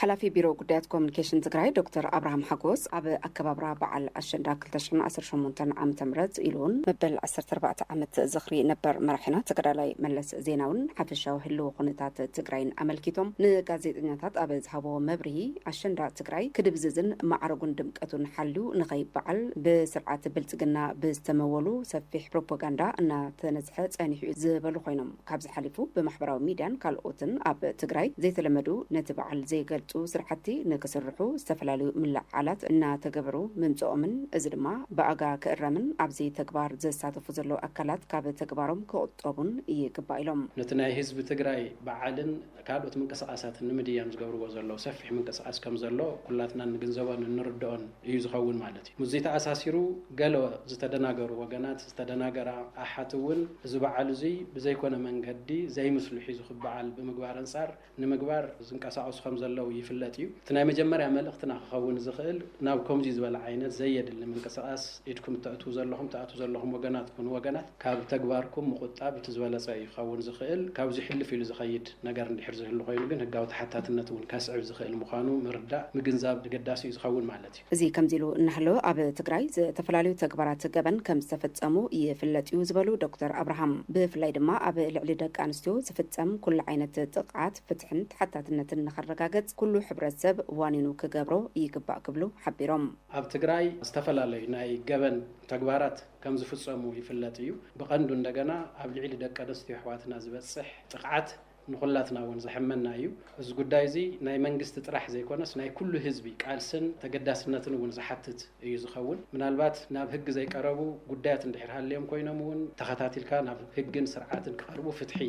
ሓላፊ ቢሮ ጉዳያት ኮሙኒኬሽን ትግራይ ዶክተር ኣብርሃም ሓጎስ ኣብ ኣከባብራ በዓል ኣሸንዳ ክልተ ሽሕን ዓሰርተ ሸሞንተን ዓመተ ምህረት ኢሉ እውን መበል ዓሰርተ ኣርባዕተ ዓመት ዝኽሪ ነበር መራሒና ተጋዳላይ መለስ ዜናዊን ሓፈሻዊ ህልዊ ኩነታት ትግራይን ኣመልኪቶም ንጋዜጠኛታት ኣብ ዝሃብዎ መብርሂ ኣሸንዳ ትግራይ ክድብዝዝን ማዕርጉን ድምቀቱን ሓልዩ ንኸይበዓል ብስርዓት ብልፅግና ብዝተመወሉ ሰፊሕ ፕሮፖጋንዳ እናተነዝሐ ፀኒሑ እዩ ዝበሉ ኮይኖም ካብዚ ሓሊፉ ብማሕበራዊ ሚድያን ካልኦትን ኣብ ትግራይ ዘይተለመዱ ነቲ በዓል ዘይገልፁ ስራሕቲ ንክስርሑ ዝተፈላለዩ ምልዕዓላት እናተገበሩ ምምፅኦምን እዚ ድማ ብኣጋ ክእረምን ኣብዚ ተግባር ዝሳተፉ ዘለዉ ኣካላት ካብ ተግባሮም ክቑጠቡን ይግባእ ኢሎም። ነቲ ናይ ህዝቢ ትግራይ በዓልን ካልኦት ምንቅስቓሳትን ንምድያም ዝገብርዎ ዘለዉ ሰፊሕ ምንቅስቓስ ከምዘሎ ኩላትና እንግንዘቦን እንርድኦን እዩ ዝኸውን ማለት እዩ። ምስዚ ተኣሳሲሩ ገለ ዝተደናገሩ ወገናት፣ ዝተደናገራ ኣሓት እውን እዚ በዓል እዙይ ብዘይኮነ መንገዲ ዘይምስሉ ሒዙ ክበዓል ብምግባር ኣንፃር ንምግባር ዝንቀሳቐሱ ከምዘለዉ ይፍለጥ እዩ። እቲ ናይ መጀመርያ መልእኽትና ክኸውን ዝኽእል ናብ ከምዙይ ዝበለ ዓይነት ዘየድሊ ምንቅስቓስ ኢድኩም እተእትዉ ዘለኹም ትኣትዉ ዘለኹም ወገናት ኩኑ ወገናት ካብ ተግባርኩም ምቑጣብ እቲ ዝበለፀ እዩ ክኸውን ዝኽእል። ካብዙይ ሕልፍ ኢሉ ዝኸይድ ነገር እንድሕር ዝህሉ ኮይኑ ግን ህጋዊ ተሓታትነት እውን ከስዕብ ዝኽእል ምዃኑ ምርዳእ፣ ምግንዛብ ኣገዳሲ እዩ ዝኸውን ማለት እዩ። እዚ ከምዚ ኢሉ እናሃለወ ኣብ ትግራይ ዝተፈላለዩ ተግባራት ገበን ከምዝተፈፀሙ ይፍለጥ እዩ ዝበሉ ዶክተር ኣብርሃም፣ ብፍላይ ድማ ኣብ ልዕሊ ደቂ ኣንስትዮ ዝፍፀም ኩሉ ዓይነት ጥቕዓት ፍትሕን ተሓታትነትን ንኸረጋገፅ ኩሉ ሕብረተሰብ ዋኒኑ ክገብሮ ይግባእ ክብሉ ሓቢሮም። ኣብ ትግራይ ዝተፈላለዩ ናይ ገበን ተግባራት ከምዝፍፀሙ ይፍለጥ እዩ። ብቐንዱ እንደገና ኣብ ልዕሊ ደቂ ኣንስትዮ ኣሕዋትና ዝበፅሕ ጥቕዓት ንኹላትና እውን ዘሕመና እዩ። እዚ ጉዳይ እዚ ናይ መንግስቲ ጥራሕ ዘይኮነስ ናይ ኩሉ ህዝቢ ቃልስን ተገዳስነትን እውን ዝሓትት እዩ ዝኸውን። ምናልባት ናብ ህጊ ዘይቀረቡ ጉዳያት እንድሕር ሃልዮም ኮይኖም እውን ተኸታቲልካ ናብ ህግን ስርዓትን ክቐርቡ ፍትሒ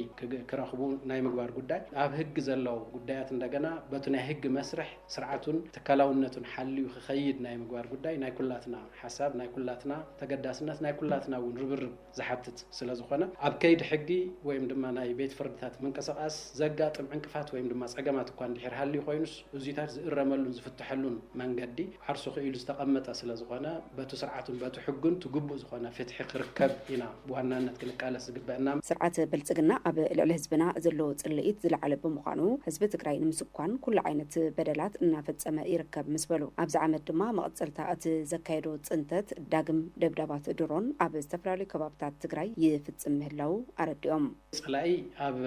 ክረኽቡ ናይ ምግባር ጉዳይ ኣብ ህጊ ዘለዉ ጉዳያት እንደገና በቱ ናይ ህጊ መስርሕ ስርዓቱን ትካላውነቱን ሓልዩ ክኸይድ ናይ ምግባር ጉዳይ ናይ ኩላትና ሓሳብ ናይ ኩላትና ተገዳስነት ናይ ኩላትና እውን ርብርብ ዝሓትት ስለዝኾነ፣ ኣብ ከይዲ ሕጊ ወይም ድማ ናይ ቤት ፍርድታት ምንቅስቓስ ዘጋጥም ዕንቅፋት ወይም ድማ ፀገማት እኳ እንድሕር ሃልዩ ኮይኑስ እዙይታት ዝእረመሉን ዝፍተሐሉን መንገዲ ዓርሱ ክኢሉ ዝተቐመጠ ስለዝኾነ በቱ ስርዓቱን በቱ ሕጉን እቲ ግቡእ ዝኾነ ፍትሒ ክርከብ ኢና ብዋናነት ክንቃለስ ዝግበእና። ስርዓት ብልፅግና ኣብ ልዕሊ ህዝብና ዘለዎ ፅልኢት ዝለዓለ ብምዃኑ ህዝቢ ትግራይ ንምስኳን ኩሉ ዓይነት በደላት እናፈፀመ ይርከብ ምስ በሉ። ኣብዚ ዓመት ድማ መቐፀልታ እቲ ዘካየዶ ፅንተት ዳግም። ደብዳባት ድሮን ኣብ ዝተፈላለዩ ከባብታት ትግራይ ይፍፅም ምህላዉ ኣረዲኦም። ፀላኢ ኣብ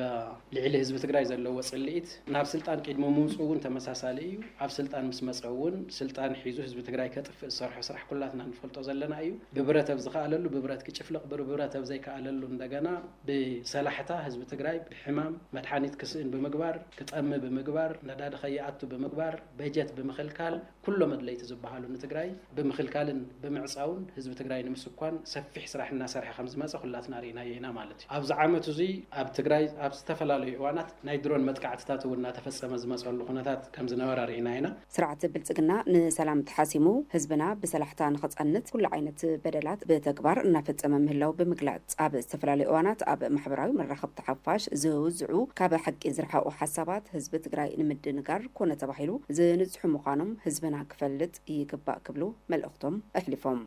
ልዒሊ ህዝቢ ትግራይ ዘለዎ ፅልኢት ናብ ስልጣን ቂድሚ ምውፅኡ እውን ተመሳሳሊ እዩ። ኣብ ስልጣን ምስ መፀ እውን ስልጣን ሒዙ ህዝቢ ትግራይ ከጥፍእ ዝሰርሖ ስራሕ ኩላትና ንፈልጦ ዘለና እዩ። ብብረት ኣብ ዝኸኣለሉ ብብረት ክጭፍልቕ ብብረት ኣብ ዘይከኣለሉ እንደገና ብሰላሕታ ህዝቢ ትግራይ ብሕማም መድሓኒት ክስእን ብምግባር ክጠሚ ብምግባር ነዳዲ ከይኣቱ ብምግባር በጀት ብምኽልካል ኩሎም ኣድለይቲ ዝበሃሉ ንትግራይ ብምኽልካልን ብምዕፃውን ህዝቢ ትግራይ ንምስኳን ሰፊሕ ስራሕ እናሰርሐ ከምዝመፀ ኩላትና ሪእናዮ ኢና ማለት እዩ። ኣብዚ ዓመት እዙይ ኣብ ትግራይ ኣብ ዝተፈላለዩ እዋናት ናይ ድሮን መጥቃዕትታት እውን እናተፈፀመ ዝመፀሉ ኩነታት ከምዝነበረ ሪእና ኢና። ስርዓት ብልፅግና ንሰላም ተሓሲሙ ህዝብና ብሰላሕታ ንኽፀንት ኩሉ ዓይነት በደላት ብተግባር እናፈፀመ ምህላው ብምግላፅ ኣብ ዝተፈላለዩ እዋናት ኣብ ማሕበራዊ መራኸብቲ ሓፋሽ ዝውዝዑ ካብ ሓቂ ዝረሓቑ ሓሳባት ህዝቢ ትግራይ ንምድንጋር ኮነ ተባሂሉ ዝንፅሑ ምዃኖም ህዝብና ክፈልጥ ይግባእ ክብሉ መልእኽቶም ኣሕሊፎም።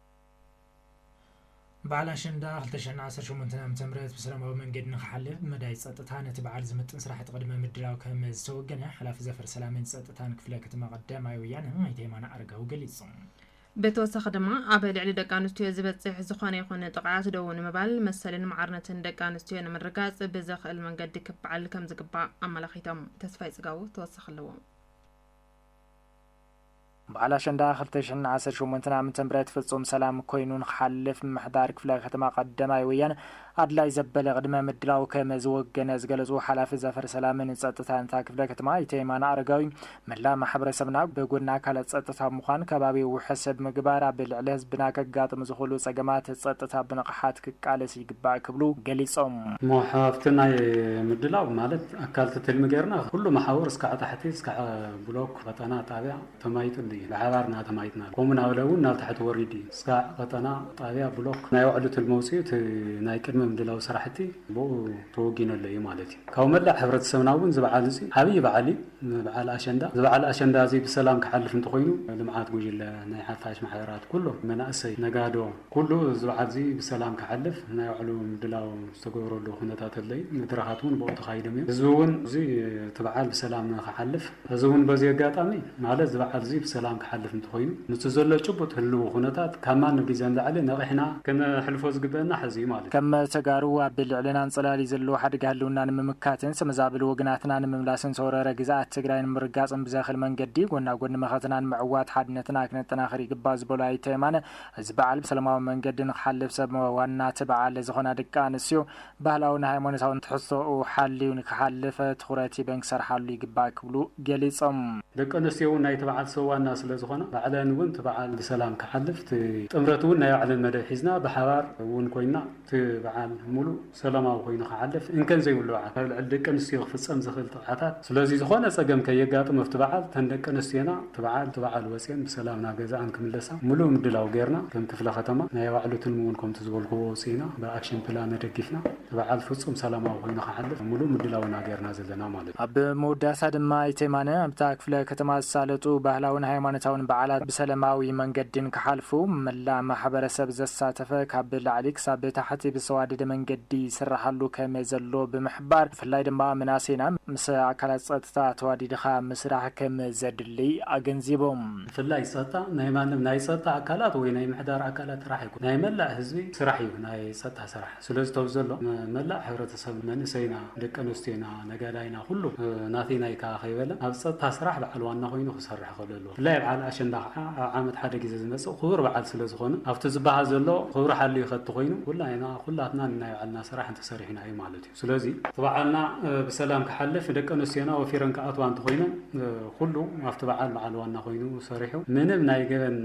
በዓል ኣሸንዳ ክልተ ሽሕን ዓሰርተ ሸሞንተን ዓመተ ምህረት ብሰላማዊ መንገዲ ንክሓልፍ ብመዳይ ፀጥታ ነቲ በዓል ዝምጥን ስራሕቲ ቅድመ ምድላው ከምዝተወገነ ሓላፊ ዘፈር ሰላምን ፀጥታን ክፍለ ከተማ ቀዳማይ ወያነ ኣይተ የማነ ኣረጋዊ ገሊፆም። ብተወሳኺ ድማ ኣብ ልዕሊ ደቂ ኣንስትዮ ዝበፅሕ ዝኾነ ይኹን ጥቕዓት ደዉ ንምባል መሰልን ማዕርነትን ደቂ ኣንስትዮ ንምርጋፅ ብዘኽእል መንገዲ ክበዓል ከምዝግባእ ኣመላኺቶም። ተስፋይ ፅጋቡ ተወሳኺ ኣለዎ። በዓል ኣሸንዳ ክልተ ሽሕን ዓሰርተ ሸሞንተን ዓመተ ምህረት ፍፁም ሰላም ኮይኑ ንክሓልፍ ምምሕዳር ክፍለ ከተማ ቀዳማይ ወያነ ኣድላይ ዘበለ ቅድመ ምድላው ከም ዝወገነ ዝገለፁ ሓላፊ ዘፈር ሰላምን ፀጥታን እታ ክፍለ ከተማ ኣይተ የማነ ኣረጋዊ መላእ ማሕበረሰብና ብጎኒ ኣካላት ፀጥታ ምዃን ከባቢ ውሕስ ብምግባር ኣብ ልዕሊ ህዝብና ከጋጥሙ ዝኽእሉ ፀገማት ፀጥታ ብንቕሓት ክቃለስ ይግባእ ክብሉ ገሊፆም። እሞ ሃፍቲ ናይ ምድላው ማለት ኣካል እቲ ትልሚ ገይርና ኩሉ መሓውር እስካዕ ታሕቲ እስካዕ ብሎክ፣ ቐጠና፣ ጣብያ፣ ተማይጥሉ እዩ። ብሓባር እናተማይጥናሉ ከምኡ ናበለ እውን ናብ ታሕቲ ወሪዱ እዩ። እስካዕ ቀጠና፣ ጣብያ፣ ብሎክ ናይ ባዕሉ ትልሚ ኣውፂኡ እቲ ናይ ቅድመ ምድላው ስራሕቲ ብኡ ተወጊነሉ እዩ ማለት እዩ። ካብ መላእ ሕብረተሰብና እውን እዚ በዓል እዙይ ዓብይ በዓል እዩ። በዓል ኣሸንዳ እዚ በዓል ኣሸንዳ እዙይ ብሰላም ክሓልፍ እንተኾይኑ ልምዓት ጉጅለ፣ ናይ ሓፋሽ ማሕበራት፣ ኩሎም መናእሰይ፣ ነጋዶ፣ ኩሉ እዚ በዓልዚ ብሰላም ክሓልፍ ናይ ባዕሉ ምድላው ዝተገበረሉ ኩነታት ኣለዩ። መድረኻት እውን ብኡ ተኻይዶም እዮም። ህዝቢ እውን እዚ እቲ በዓል ብሰላም ንክሓልፍ እዚ እውን በዚ ኣጋጣሚ ማለት እዚ በዓልዚ ብሰላም ክሓልፍ እንተኾይኑ ምስቲ ዘሎ ጭቡጥ ህልዊ ኩነታት ካብ ማንም ግዜ ንላዕሊ ነቒሕና ከነሕልፎ ዝግበእና ሕዚ እዩ ማለት እዩ። ከም ተጋሩ ኣብ ልዕልና ኣንጸላልዩ ዘሎ ሓደጋ ህልውና ንምምካትን ዝተመዛበሉ ወገናትና ንምምላስን ዝተወረረ ግዝኣት ትግራይ ንምርጋጽን ብዘኽል መንገዲ ጎናጎኒ መኸተና ንምዕዋት ሓድነትና ክነጠናኽር ይግባእ ዝበሉ ኣይተ የማነ፣ እዚ በዓል ብሰለማዊ መንገዲ ንክሓልፍ ሰብ ዋና እቲ በዓል ዝኾና ደቂ ኣንስትዮ ባህላውን ሃይማኖታውን ትሕዝቶኡ ሓልዩ ንክሓልፍ ትኹረት ሂበን ክሰርሓሉ ይግባእ ክብሉ ገሊፆም። ደቂ ኣንስትዮ እውን ናይቲ በዓል ሰብ ዋና ስለዝኾና ባዕለን እውን እቲ በዓል ብሰላም ክሓልፍ እቲ ጥምረት እውን ናይ ባዕለን መደብ ሒዝና ብሓባር እውን ኮይንና እቲ በዓል ሙሉእ ሰላማዊ ኮይኑ ክሓልፍ እንከን ዘይብሉ በዓል ኣብ ልዕሊ ደቂ ኣንስትዮ ክፍጸም ዝኽእል ጥቕዓታት ስለዚ ዝኾነ ጸገም ከየጋጥም ኣብቲ በዓል እተን ደቂ ኣንስትዮና እቲ በዓል እቲ በዓል ወጺኤን ብሰላም ናብ ገዘኣን ክምለሳ ምሉእ ምድላው ገይርና ከም ክፍለ ከተማ ናይ ኣዋዕሎ ትልሚ ውን ከምቲ ዝበልኩዎ ኣውጺእና ብኣክሽን ፕላን ኣደጊፍና እቲ በዓል ፍጹም ሰላማዊ ኮይኑ ክሓልፍ ምሉእ ምድላው ኢና ገይርና ዘለና ማለት እዩ። ኣብ ምውዳሳ ድማ ኣይተ የማነ፣ ኣብታ ክፍለ ከተማ ዝሳለጡ ባህላውን ሃይማኖታውን በዓላት ብሰለማዊ መንገዲ ንክሓልፉ መላእ ማሕበረሰብ ዘሳተፈ ካብ ላዕሊ ክሳብ ታሕቲ ብዝተዋደደ መንገዲ ይስራሓሉ ከመዘሎ ብምሕባር ብፍላይ ድማ መናእሰይና ምስ ኣካላት ፀጥታ ተዋዲድኻ ምስራሕ ከምዘድልይ ኣገንዚቦም። ብፍላይ ፀጥታ ናይ ማንም ናይ ፀጥታ ኣካላት ወይ ናይ ምሕዳር ኣካላት ስራሕ ኣይኮነን ናይ መላእ ህዝቢ ስራሕ እዩ ናይ ፀጥታ ስራሕ። ስለዚ ቶብ ዘሎ መላእ ሕብረተሰብ መንእሰይና ደቂ ኣንስትዮና ነጋዳይና ኩሉ ናተይ ናይካ ከይበለ ኣብ ጸጥታ ስራሕ በዓል ዋና ኮይኑ ክሰርሕ ክኽእል ኣለዎ። ብፍላይ ኣብ በዓል ኣሸንዳ ከኣ ኣብ ዓመት ሓደ ግዜ ዝመጽእ ክቡር በዓል ስለ ዝኾነ ኣብቲ ዝበሃል ዘሎ ክብሪ ሓልዩ ከቲ ኮይኑ ኩላይና ኩላትና ንናይ ባዕልና ስራሕ እንተሰሪሕና እዩ ማለት እዩ። ስለዚ እቲ በዓልና ብሰላም ክሓልፍ ደቂ ኣንስትዮና ወፊረን ክኣትዋ እንተኾይነን ኩሉ ኣብቲ በዓል በዓል ዋና ኮይኑ ሰሪሑ ምንም ናይ ገበን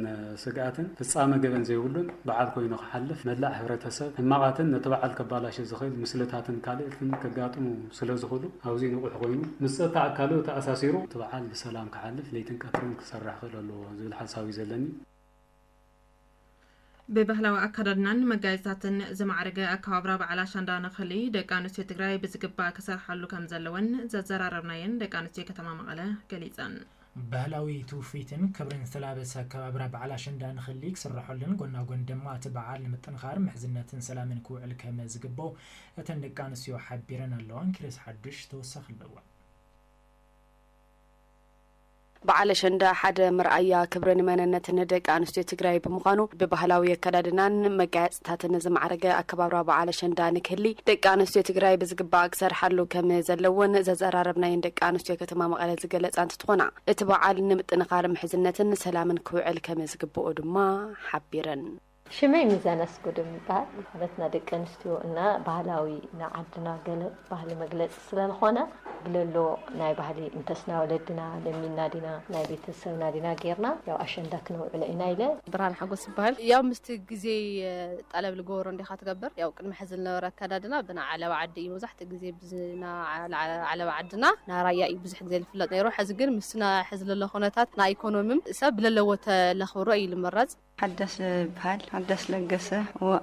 ስግኣትን ፍጻመ ገበን ዘይብሉን በዓል ኮይኑ ክሓልፍ መላእ ሕብረተሰብ ሕማቓትን ነቲ በዓል ከባላሽ ዝኽእል ምስልታትን ካልእትን ከጋጥሙ ስለዝኽሉ ኣውዚ ንቑሕ ኮይኑ ምስ ጸጥታ ኣካሉ ተኣሳሲሩ እቲ በዓል ብሰላም ክሓልፍ ለይትን ቀትርን ክሰርሕ ክኽእል ኣለዎ ዝብል ሓሳብ እዩ ዘለኒ። ብባህላዊ ኣከዳድናን መጋየፅታትን ዝማዕረገ ኣከባብራ በዓል ኣሸንዳ ንክሊ ደቂ ኣንስትዮ ትግራይ ብዝግባእ ክሰርሓሉ ከምዘለወን ዘዘራረብናየን ደቂ ኣንስትዮ ከተማ መቐለ ገሊፀን። ባህላዊ ትውፊትን ክብርን ዝተላበሰ ኣከባብራ በዓል ኣሸንዳ ንክሊ ክስረሐሉን ጎና ጎኒ ድማ እቲ በዓል ንምጥንኻር ምሕዝነትን ሰላምን ክውዕል ከመ ዝግበኦ እተን ደቂ ኣንስትዮ ሓቢረን ኣለዋ። ኪሮስ ሓዱሽ ተወሳኺ ኣለዎ። በዓል ኣሸንዳ ሓደ መርኣያ ክብርን መነነትን ደቂ ኣንስትዮ ትግራይ ብምዃኑ ብባህላዊ ኣከዳድናን መጋየፅታትን፣ ታተነ ዝማዕረገ ኣከባብራ በዓል ኣሸንዳ ንክህሊ ደቂ ኣነስትዮ ትግራይ ብዝግባእ ክሰርሓሉ ከም ዘለወን ዘዘራረብናየን ደቂ ኣነስትዮ ከተማ መቐለ ዝገለፃ እንትትኾና እቲ በዓል ንምጥንኻር ምሕዝነትን ሰላምን ክውዕል ከም ዝግበኦ ድማ ሓቢረን። ሽመይ ሚዛን ኣስጉደም ይበሃል። ማለትና ደቂ ኣንስትዮ እና ባህላዊ ናዓድና ገለ ባህሊ መግለፂ ስለልኾነ ብለሎ ናይ ባህሊ እንተስ ናይ ወለድና ለሚንና ዲና ናይ ቤተሰብና ዲና ጌርና ያው ኣሸንዳ ክነውዕሎ ኢና ኢለ። ብርሃነ ሓጎስ ይበሃል። ያው ምስቲ ግዜ ጠለብ ልገበሮ እንዲኻ ትገብር። ያው ቅድሚ ሕዚ ልነበረ ኣከዳድና ብናይ ዓለባ ዓዲ እዩ መብዛሕትኡ ግዜ ብናይ ዓለባ ዓድና ናይ ራያ እዩ ብዙሕ ግዜ ልፍለጥ ነይሩ። ሕዚ ግን ምስቲ ናይ ሕዚ ለሎ ኩነታት ናይ ኢኮኖምም ሰብ ብለለዎ ተለኽብሮ እዩ ልምረፅ። ሓዳስ ይብሃል ሓዳስ ለገሰ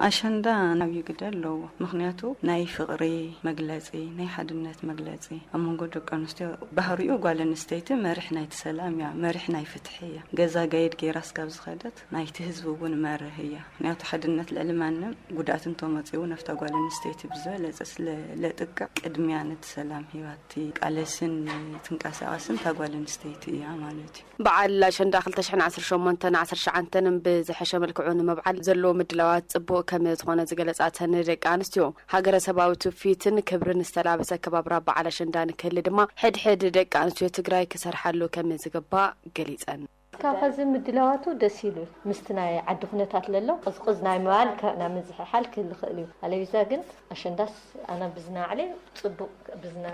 ኣሸንዳ ዓብዪ ግደ ኣለዎ ምኽንያቱ ናይ ፍቕሪ መግለፂ ናይ ሓድነት መግለፂ ኣብ መንጎ ደቂ ኣንስትዮ ባህሪኡ ጓል ኣንስተይቲ መሪሕ ናይቲ ሰላም እያ መሪሕ ናይ ፍትሒ እያ ገዛ ጋይድ ገይራ እስካብ ዝኸደት ናይቲ ህዝቢ እውን መርህ እያ ምኽንያቱ ሓድነት ልዕሊ ማንም ጉድኣት እንተመፂኡ እውን ኣብታ ጓል ኣንስተይቲ ብዝበለፀ ስለ ለጥቅዕ ቅድሚያ ነቲ ሰላም ሂባ እትቃለስን ትንቀሳቐስን እታ ጓል ኣንስተይቲ እያ ማለት እዩ። በዓል ኣሸንዳ ክልተ ሽሕን ዓሰርተ ሸሞንተን ዓሰርተ ትሽዓንተን ብዝሐሸ መልክዑ ንምብዓል ዘለዎ ምድላዋት ፅቡቕ ከምዝኾነ ዝገለፃ እተን ደቂ ኣንስትዮ፣ ሃገረሰባዊ ትውፊትን ክብርን ዝተላበሰ ኣከባብራ በዓል ኣሸንዳ ንክህሊ ድማ ሕድ ሕድ ደቂ ኣንስትዮ ትግራይ ክሰርሓሉ ከምዝግባእ ገሊፀን። እስካብ ሐዚ ምድላዋቱ ደስ ኢሉ እዩ። ምስቲ ናይ ዓዲ ኩነታት ለሎ ቕዝቕዝ ናይ ምባል ካብ ናብ ምዝሕሓል ክህሊ ይኽእል እዩ። ኣለቢዛ ግን ኣሸንዳስ ኣና ብዝና ኣዕሌ ፅቡቕ ብዝና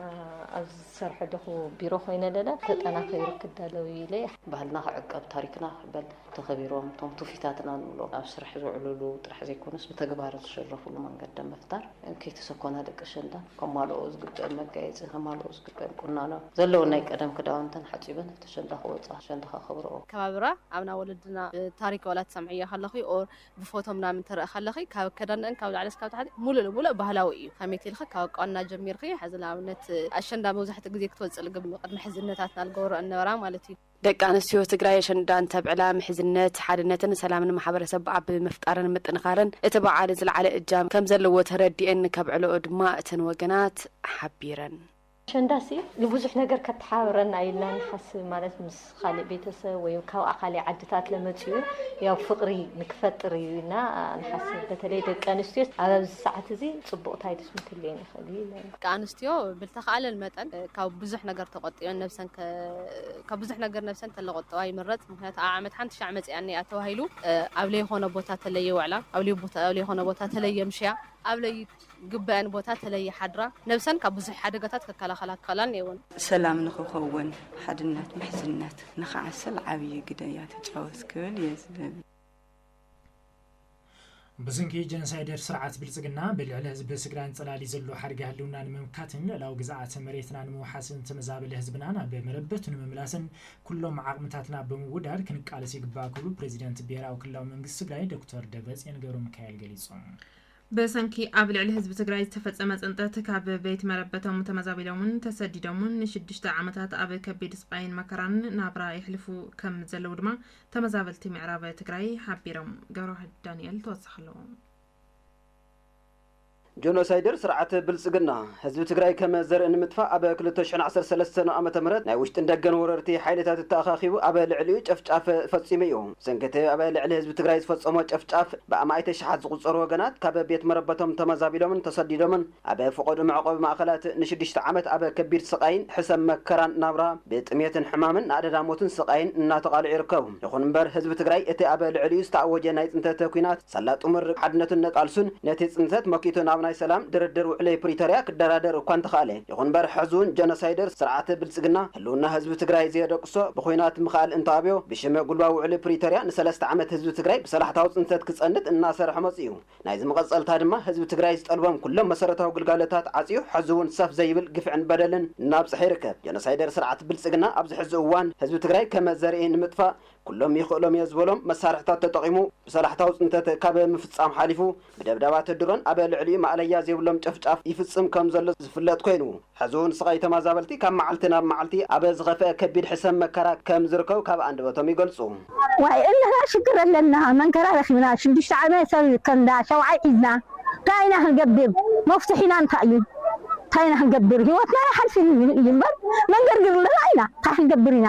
ኣብ ዝሰርሖ ደኹ ቢሮ ኮይነ ለለ ተጠናኺሩ ክዳለው ኢለ። ባህልና ክዕቀብ ታሪክና ክበል ተኸቢሮም እቶም ትውፊታትና ንብሎም ኣብ ስራሕ ዝውዕሉሉ ጥራሕ ዘይኮነስ ብተግባር ዝሽረፉሉ መንገዲ ኣብ ምፍጣር ከይተሰኮና ደቂ ኣሸንዳ ከማልኦ ዝግበእን መጋየፂ ከማልኦ ዝግበእን ቁናኖ ዘለወን ናይ ቀደም ክዳውንተን ሓፂበን ኣብቲ ኣሸንዳ ክወፃ ኣሸንዳ ከኽብርኦ። ኣከባብራ ኣብና ወለድና ብታሪክ ዋላ ትሰምዕዮ ከለኺ or ብፎቶ ምናምን ትረኢ ከለኺ ካብ ኣከዳድንኣን ካብ ላዕሊ እስካብ ታሕቲ ሙሉእ ንሙሉእ ባህላዊ እዩ ከመይ ትልኺ ካብ ኣቋንና ጀሚርኺ ሐዚ ንኣብነት ኣሸንዳ መብዛሕትኡ ግዜ ክትወፅእ ልግብ ቅድሚ ሐዚ እነታትና ልገብረኦ እነበራ ማለት እዩ። ደቂ ኣንስትዮ ትግራይ ኣሸንዳ እንተብዕላ ምሕዝነት፣ ሓድነትን ሰላምን ማሕበረሰብ ኣብ ምፍጣርን ምጥንኻርን እቲ በዓል ዝለዓለ እጃም ከምዘለዎ ተረዲኤን ከምዕለኦ ድማ እተን ወገናት ሓቢረን። ኣሸንዳሲ ንብዙሕ ነገር ከተሓባብረና ኢልና ንሓስብ ማለት ምስ ኻሊእ ቤተሰብ ወይ ካብ ኣኻሊእ ዓድታት ለመፅኡ ያው ፍቕሪ ንክፈጥር እዩ ኢልና ንሓስብ በተለይ ደቂ ኣንስትዮ ኣብ ኣብዚ ሰዓት እዚ ፅቡቕ ታይትስ ምክልየን ይኽእል እዩ ኢለ ደቂ ኣንስትዮ ብልተኻእለን መጠን ካብ ብዙሕ ነገር ተቖጢበን ነብሰን ካብ ብዙሕ ነገር ነብሰን ተለቆጠባ ይምረፅ ምክንያቱ ኣብ ዓመት ሓንቲ ሻዕ መፂኣኒ እያ ተባሂሉ ኣብ ለይኾነ ቦታ ተለይ የውዕላ ኣብ ለይኾነ ቦታ ተለይ የምሽያ ኣብ ለይ ግበኣን ቦታ ተለይሓድራ ነብሰን ካብ ብዙሕ ሓደጋታት ክከላኸላ ክኸእላን የውን። ሰላም ንክኸውን ሓድነት ምሕዝነት ንክዓስል ዓብይ ግደ እያ ትጫወት ክብል እየ ዝደሊ። ብስንኪ ጀንሳይደር ስርዓት ብልፅግና ብልዕሊ ህዝቢ ትግራይን ፀላሊ ዘሎ ሓደጋ ህልውና ንምምካትን ልእላዊ ግዝኣተ መሬትና ንምውሓስን ዝተመዛበለ ህዝብና ናብ መረበቱ ንምምላስን ኩሎም ዓቕምታትና ብምውዳድ ክንቃለስ ይግባእ ክብሉ ፕሬዚደንት ብሄራዊ ክልላዊ መንግስቲ ትግራይ ዶክተር ደብረፅዮን ገብረሚካኤል ገሊፆም። ብሰንኪ ኣብ ልዕሊ ህዝቢ ትግራይ ዝተፈፀመ ፅንተት ካብ ቤት መረበቶም ተመዛቢሎምን ተሰዲዶምን ንሽዱሽተ ዓመታት ኣብ ከቢድ ስቓይን መከራን ናብራ የሕልፉ ከም ዘለዉ ድማ ተመዛበልቲ ምዕራብ ትግራይ ሓቢሮም። ገብረዋህድ ዳኒኤል ተወሳኺ ኣለዎ። ጆኖሳይደር ስርዓት ብልፅግና ህዝቢ ትግራይ ከም ዘርኢ ንምጥፋእ ኣብ ክልተ ሽሕን ዓሰርተ ሰለስተን ዓመተ ምህረት ናይ ውሽጥን ደገን ወረርቲ ሓይልታት ተኣኻኺቡ ኣብ ልዕሊኡ ጨፍጫፍ ፈፂሙ እዩ። ሰንከተ ኣብ ልዕሊ ህዝቢ ትግራይ ዝፈፀሞ ጨፍጫፍ ብኣማኢተ ሽሓት ዝቑፀሩ ወገናት ካብ ቤት መረበቶም ተመዛቢሎምን ተሰዲዶምን ኣብ ፍቖዱ መዕቖቢ ማእኸላት ንሽዱሽተ ዓመት ኣብ ከቢድ ስቓይን ሕሰም መከራን ናብራ ብጥምየትን ሕማምን ንኣደዳ ሞትን ስቓይን እናተቓልዑ ይርከቡ። ይኹን እምበር ህዝቢ ትግራይ እቲ ኣብ ልዕሊኡ ዝተኣወጀ ናይ ፅንተተ ኲናት ሳላ ጥሙር ሓድነቱን ነቃልሱን ነቲ ጽንተት መኪቱ ናብ ናይ ሰላም ድርድር ውዕሊ ፕሪቶርያ ክደራደር እኳ እንተኸኣለ፣ ይኹን እምበር ሕዚውን ጀኖሳይደር ስርዓት ብልጽግና ህልውና ህዝቢ ትግራይ ዘየደቅሶ ብኹናት ምኽኣል እንተኣብዮ ብሽም ጉልባዊ ውዕሊ ፕሪቶርያ ንሰለስተ ዓመት ህዝቢ ትግራይ ብሰላሕታዊ ጽንተት ክጸንት እናሰርሐ መጺኡ። ናይዚ መቐጸልታ ድማ ህዝቢ ትግራይ ዝጠልቦም ኩሎም መሰረታዊ ግልጋሎታት ዓጽዩ ሕዚውን ሰፍ ዘይብል ግፍዕን በደልን እናብጽሐ ይርከብ። ጀኖሳይደር ስርዓት ብልጽግና ኣብዚ ሕዚ እዋን ህዝቢ ትግራይ ከመ ዘርኢ ንምጥፋእ ኩሎም ይኽእሎም'የ ዝበሎም መሳርሒታት ተጠቒሙ ብሰላሕታዊ ፅንተት ካብ ምፍፃም ሓሊፉ ብደብዳባት ድሮን ኣብ ልዕሊኡ ማእለያ ዘይብሎም ጨፍጫፍ ይፍፅም ከም ዘሎ ዝፍለጥ ኮይኑ ሕዚ እውን ስቓይ ተማዛበልቲ ካብ መዓልቲ ናብ መዓልቲ ኣብ ዝኸፍአ ከቢድ ሕሰም መከራ ከም ዝርከቡ ካብ ኣንደበቶም ይገልፁ። ዋይ እንህና ሽግር ኣለና መንከራ ረኪብና ሽዱሽተ ዓመት ሰብ ከንዳ ሸውዓይ ሒዝና ታይ ኢና ክንገብር መፍቱሒና እንታይ እዩ ታይ ኢና ክንገብር ሂወትና ኣይሓልፍን እዩ እምበር መንገርግር ለና ኢና ታይ ክንገብር ኢና።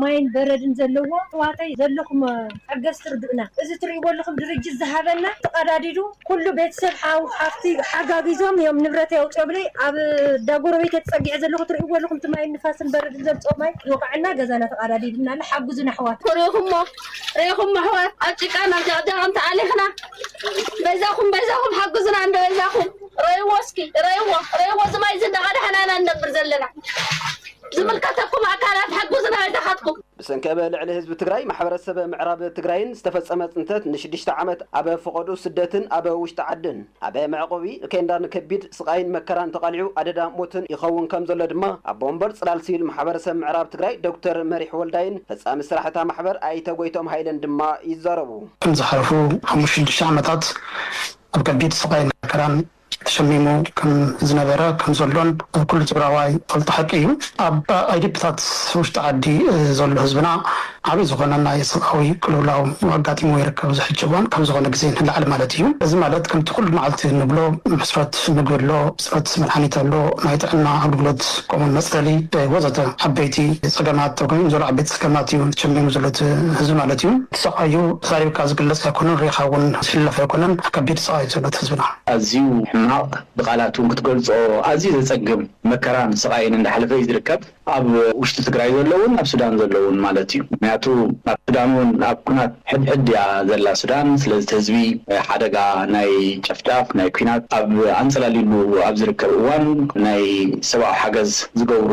ማይን በረድን ዘለዎ ኣሕዋተይ ዘለኹም ሓገዝቲ ርድኡና እዚ ትሪእዎ ኣለኹም ድርጅት ዝሃበና ተቀዳዲዱ ኩሉ ቤተሰብ ሓው ሓፍቲ ሓጋጊዞም እዮም ንብረተይ ኣውፂኦምለይ ኣብ እንዳ ጎረቤተይ ተፀጊዐ ዘለኹ ትሪእዎ ኣለኹም እቲ ማይን ንፋስን በረድን ዘምፀኦ ማይ ይወቅዐና ገዛና ተቀዳዲድና ኣሎ ሓግዙና ኣሕዋት። ሪኢኹሞ ሪኢኹሞ ኣሕዋት ኣብ ጭቃን ኣብ ጀቅጀቅን ተኣሊኽና በይዛኹም በይዛኹም ሓግዙና እንዶ በይዛኹም ረእይዎ እስኪ ረእይዎ ረእይዎ እዚ ማይ እዚ እንዳቀዳሕና ኢና ንነብር ዘለና። ዝምልከተኩም ኣካላት ሓጉዝና ይድሃትኩም። ብሰንኪ እብ ልዕሊ ህዝቢ ትግራይ ማሕበረሰብ ምዕራብ ትግራይን ዝተፈፀመ ፅንተት ንሽድሽተ ዓመት ኣብ ፍቆድኡ ስደትን ኣብ ውሽጢ ዓድን ኣብ መዕቆቢ ኬንዳን ከቢድ ስቓይን መከራን ተቓሊዑ ኣደዳ ሞትን ይኸውን ከም ዘሎ ድማ ኣቦ ወንበር ፅላል ሲቪል ማሕበረሰብ ምዕራብ ትግራይ ዶክተር መሪሕ ወልዳይን ፈፃሚ ስራሕ እታ ማሕበር ኣይተ ጎይትኦም ሃይለን ድማ ይዛረቡ። ዝሓለፉ ሓሙሽተ ሽዱሽተ ዓመታት ኣብ ከቢድ ስቓይን መከራን ተሸሚሙ ከም ዝነበረ ከም ዘሎን ኩሉ ትግራዋይ ዝፈልጦ ሓቂ እዩ። ኣብ ኣይዲፒታት ውሽጢ ዓዲ ዘሎ ህዝብና ዓብይ ዝኾነ ናይ ሰብኣዊ ቅልውላው ኣጋጢምዎ ይርከብ። እዚ ሕጂ እዋን ካብ ዝኾነ ግዜ ንላዕሊ ማለት እዩ። እዚ ማለት ከምቲ ኩሉ መዓልቲ እንብሎ ሕፅረት ምግቢ ኣሎ፣ ሕፅረት መድሓኒት ኣሎ፣ ናይ ጥዕና ኣገልግሎት ከምኡ እውን መፅለሊ ወዘተ ዓበይቲ ፀገማት ተጎይም ዘሎ ዓበይቲ ጸገማት እዩ ጀሚሩ ዘሎ እቲ ህዝቢ ማለት እዩ። እቲ ሰቃይ እዩ ተዛሪብካ ዝግለጽ ኣይኮነን ሪኢኻ ውን ዝሕለፍ ኣይኮነን ከቢድ ሰቃይ እዩ ዘሎ እቲ ህዝብና። ኣዝዩ ሕማቅ ብቃላት ውን ክትገልጾ ኣዝዩ ዘጸግም መከራን ስቃይን እንዳሕለፈ እዩ ዝርከብ ኣብ ውሽጢ ትግራይ ዘሎ ውን ኣብ ሱዳን ዘሎ ውን ማለት እዩ ምክንያቱ ኣብ ሱዳን ውን ኣብ ኩናት ሕድሕድ እያ ዘላ ሱዳን ስለዚቲ ህዝቢ ሓደጋ ናይ ጨፍጫፍ ናይ ኩናት ኣብ ኣንጸላልዩሉ ኣብ ዝርከብ እዋን ናይ ሰብኣዊ ሓገዝ ዝገብሩ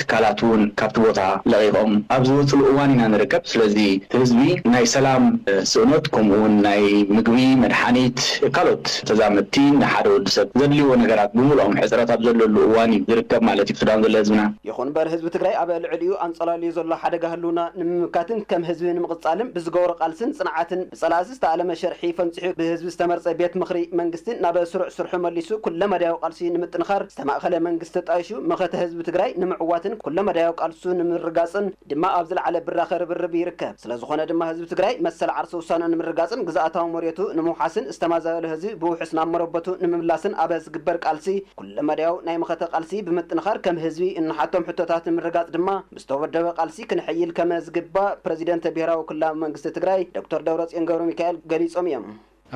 ትካላት ውን ካብቲ ቦታ ለቒቖም ኣብ ዝወጽሉ እዋን ኢና ንርከብ ስለዚ እቲ ህዝቢ ናይ ሰላም ስእኖት ከምኡ ውን ናይ ምግቢ መድሓኒት ካልኦት ተዛመድቲ ንሓደ ወዲ ሰብ ዘድልይዎ ነገራት ብምልኦም ሕጽረት ኣብ ዘለሉ እዋን እዩ ዝርከብ ማለት እዩ ሱዳን ዘሎ ህዝብና ይኹን'ምበር ህዝቢ ትግራይ ኣብ ልዕሊኡ ኣንፀላልዩ ዘሎ ሓደጋ ህልውና ንምምካትን ከም ህዝቢ ንምቕፃልን ብዝገበሮ ቃልስን ፅንዓትን ብፀላእቲ ዝተኣለመ ሸርሒ ፈንፂሑ ብህዝቢ ዝተመርፀ ቤት ምኽሪ መንግስቲ ናብ ስሩዕ ስርሑ መሊሱ ኩለመዳያዊ ቃልሲ ንምጥንኻር ዝተማእኸለ መንግስቲ ተጣይሹ መኸተ ህዝቢ ትግራይ ንምዕዋትን ኩለመዳያዊ ቃልሱ ንምርግጋፅን ድማ ኣብ ዝለዓለ ብራኸ ርብርብ ይርከብ። ስለዝኾነ ድማ ህዝቢ ትግራይ መሰል ዓርሰ ውሳነኡ ንምርግጋፅን ግዝኣታዊ መሬቱ ንምውሓስን ዝተማዛበለ ህዝቢ ብውሑስ ናብ መረበቱ ንምምላስን ኣብ ዝግበር ቃልሲ ኩለመዳያዊ ናይ መኸተ ቃልሲ ብምጥንኻር ከም ህዝቢ እንሓቶም ሕቶታት ንምርግጋፅ ድማ ብዝተወደበ ቃልሲ ክንሕይል ከመ ዝግባእ ፕረዚደንተ ብሄራዊ ክልላዊ መንግስቲ ትግራይ ዶክተር ደብረፅዮን ገብረሚካኤል ገሊፆም እዮም።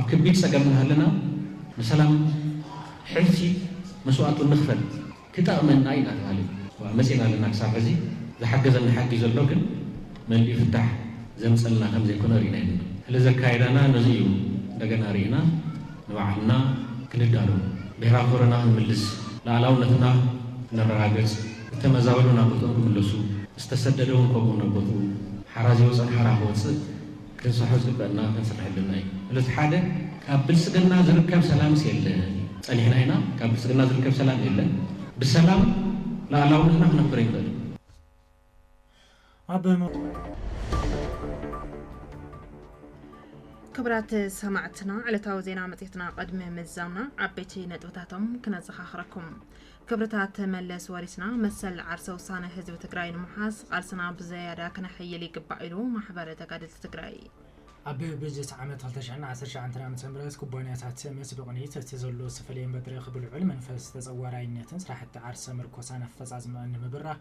ኣብ ከቢድ ፀገም እናሃለና ንሰላም ሕልፊ መስዋእቱ እንኽፈል ክጠቕመና እዩ እናተብሃለ እዩ መፂእና ኣለና ክሳብ ሕዚ ዝሓገዘና ሓጊ ዘሎ ግን መሊኡ ፍታሕ ዘምፀልና ከምዘይኮነ ሪእና የብልናን። ስለዚ ኣካይዳና ነዙይ እዩ እንደገና ሪእና ንባዕልና ክንዳሎ፣ ብሄራዊ ክብርና ክንምልስ፣ ልኣላውነትና ክነረጋገጽ፣ እተመዛበሉ ናብ ቦትኦም ክምለሱ፣ ዝተሰደደውን ከምኡ ናብ ቦትኡ፣ ሓራ ዝወጸን ሓራ ክወጽእ ክንሰሖ ዝግበእና ክንስርሕ ኣለና ኢዩ። ስለዚ ሓደ ካብ ብልጽግና ዝርከብ ሰላምስ የለን ኢዩ። ጸኒሕና ኢና ካብ ብልጽግና ዝርከብ ሰላም የለን። ብሰላም ልኣላውነትና ክነኽብር ኣይንኽእልን። ክብራት ሰማዕትና ዕለታዊ ዜና መጽሔትና ቅድሚ ምዛምና ዓበይቲ ነጥብታቶም ክነዘኻኽረኩም። ክብርታት መለስ ወሪስና መሰል ዓርሰ ውሳነ ህዝቢ ትግራይ ንምሓዝ ቃልስና ብዘያዳ ክነሕይል ይግባእ ኢሉ ማሕበረ ተጋደልቲ ትግራይ። ኣብ በጀት ዓመት 2019 ዓ.ም ኩባንያታት ምስ ብቕኒት እቲ ዘሎ ዝተፈለየ መድረኽ ብልዑል መንፈስ ተጸዋራይነትን ስራሕቲ ዓርሰ ምርኮሳን ኣፈጻጽምኣን ንምብራህ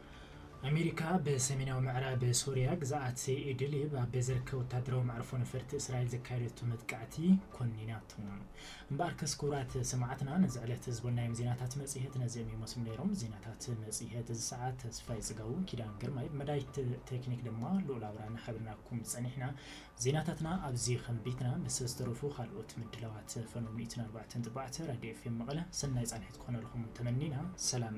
ኣሜሪካ ብሰሜናዊ ምዕራብ ሶርያ ግዝኣት ኢድሊብ ኣብ ዝርከብ ወታደራዊ መዕርፎ ነፈርቲ እስራኤል ዘካየደቶ መጥቃዕቲ ኮኒናቶ። እምበኣርከስ ክቡራት ሰማዕትና ነዚ ዕለት ዝበልናዮም ዜናታት መጽሔት ነዚኦም ይመስሉ ነይሮም። ዜናታት መጽሔት እዚ ሰዓት ተስፋይ ጽጋቡ፣ ኪዳን ግርማይ፣ ብመዳይት ቴክኒክ ድማ ልኡል ኣብራና ሓቢርናኩም ጸኒሕና። ዜናታትና ኣብዚ ከንቢትና ምስ ዝተረፉ ካልኦት ምድላዋት ፈነው ሚእትን ኣርባዕተን ጥባዕተ ራድዮ ኤፍኤም መቐለ ሰናይ ጻንሒት ክኾነልኹም ተመኒና ሰላም።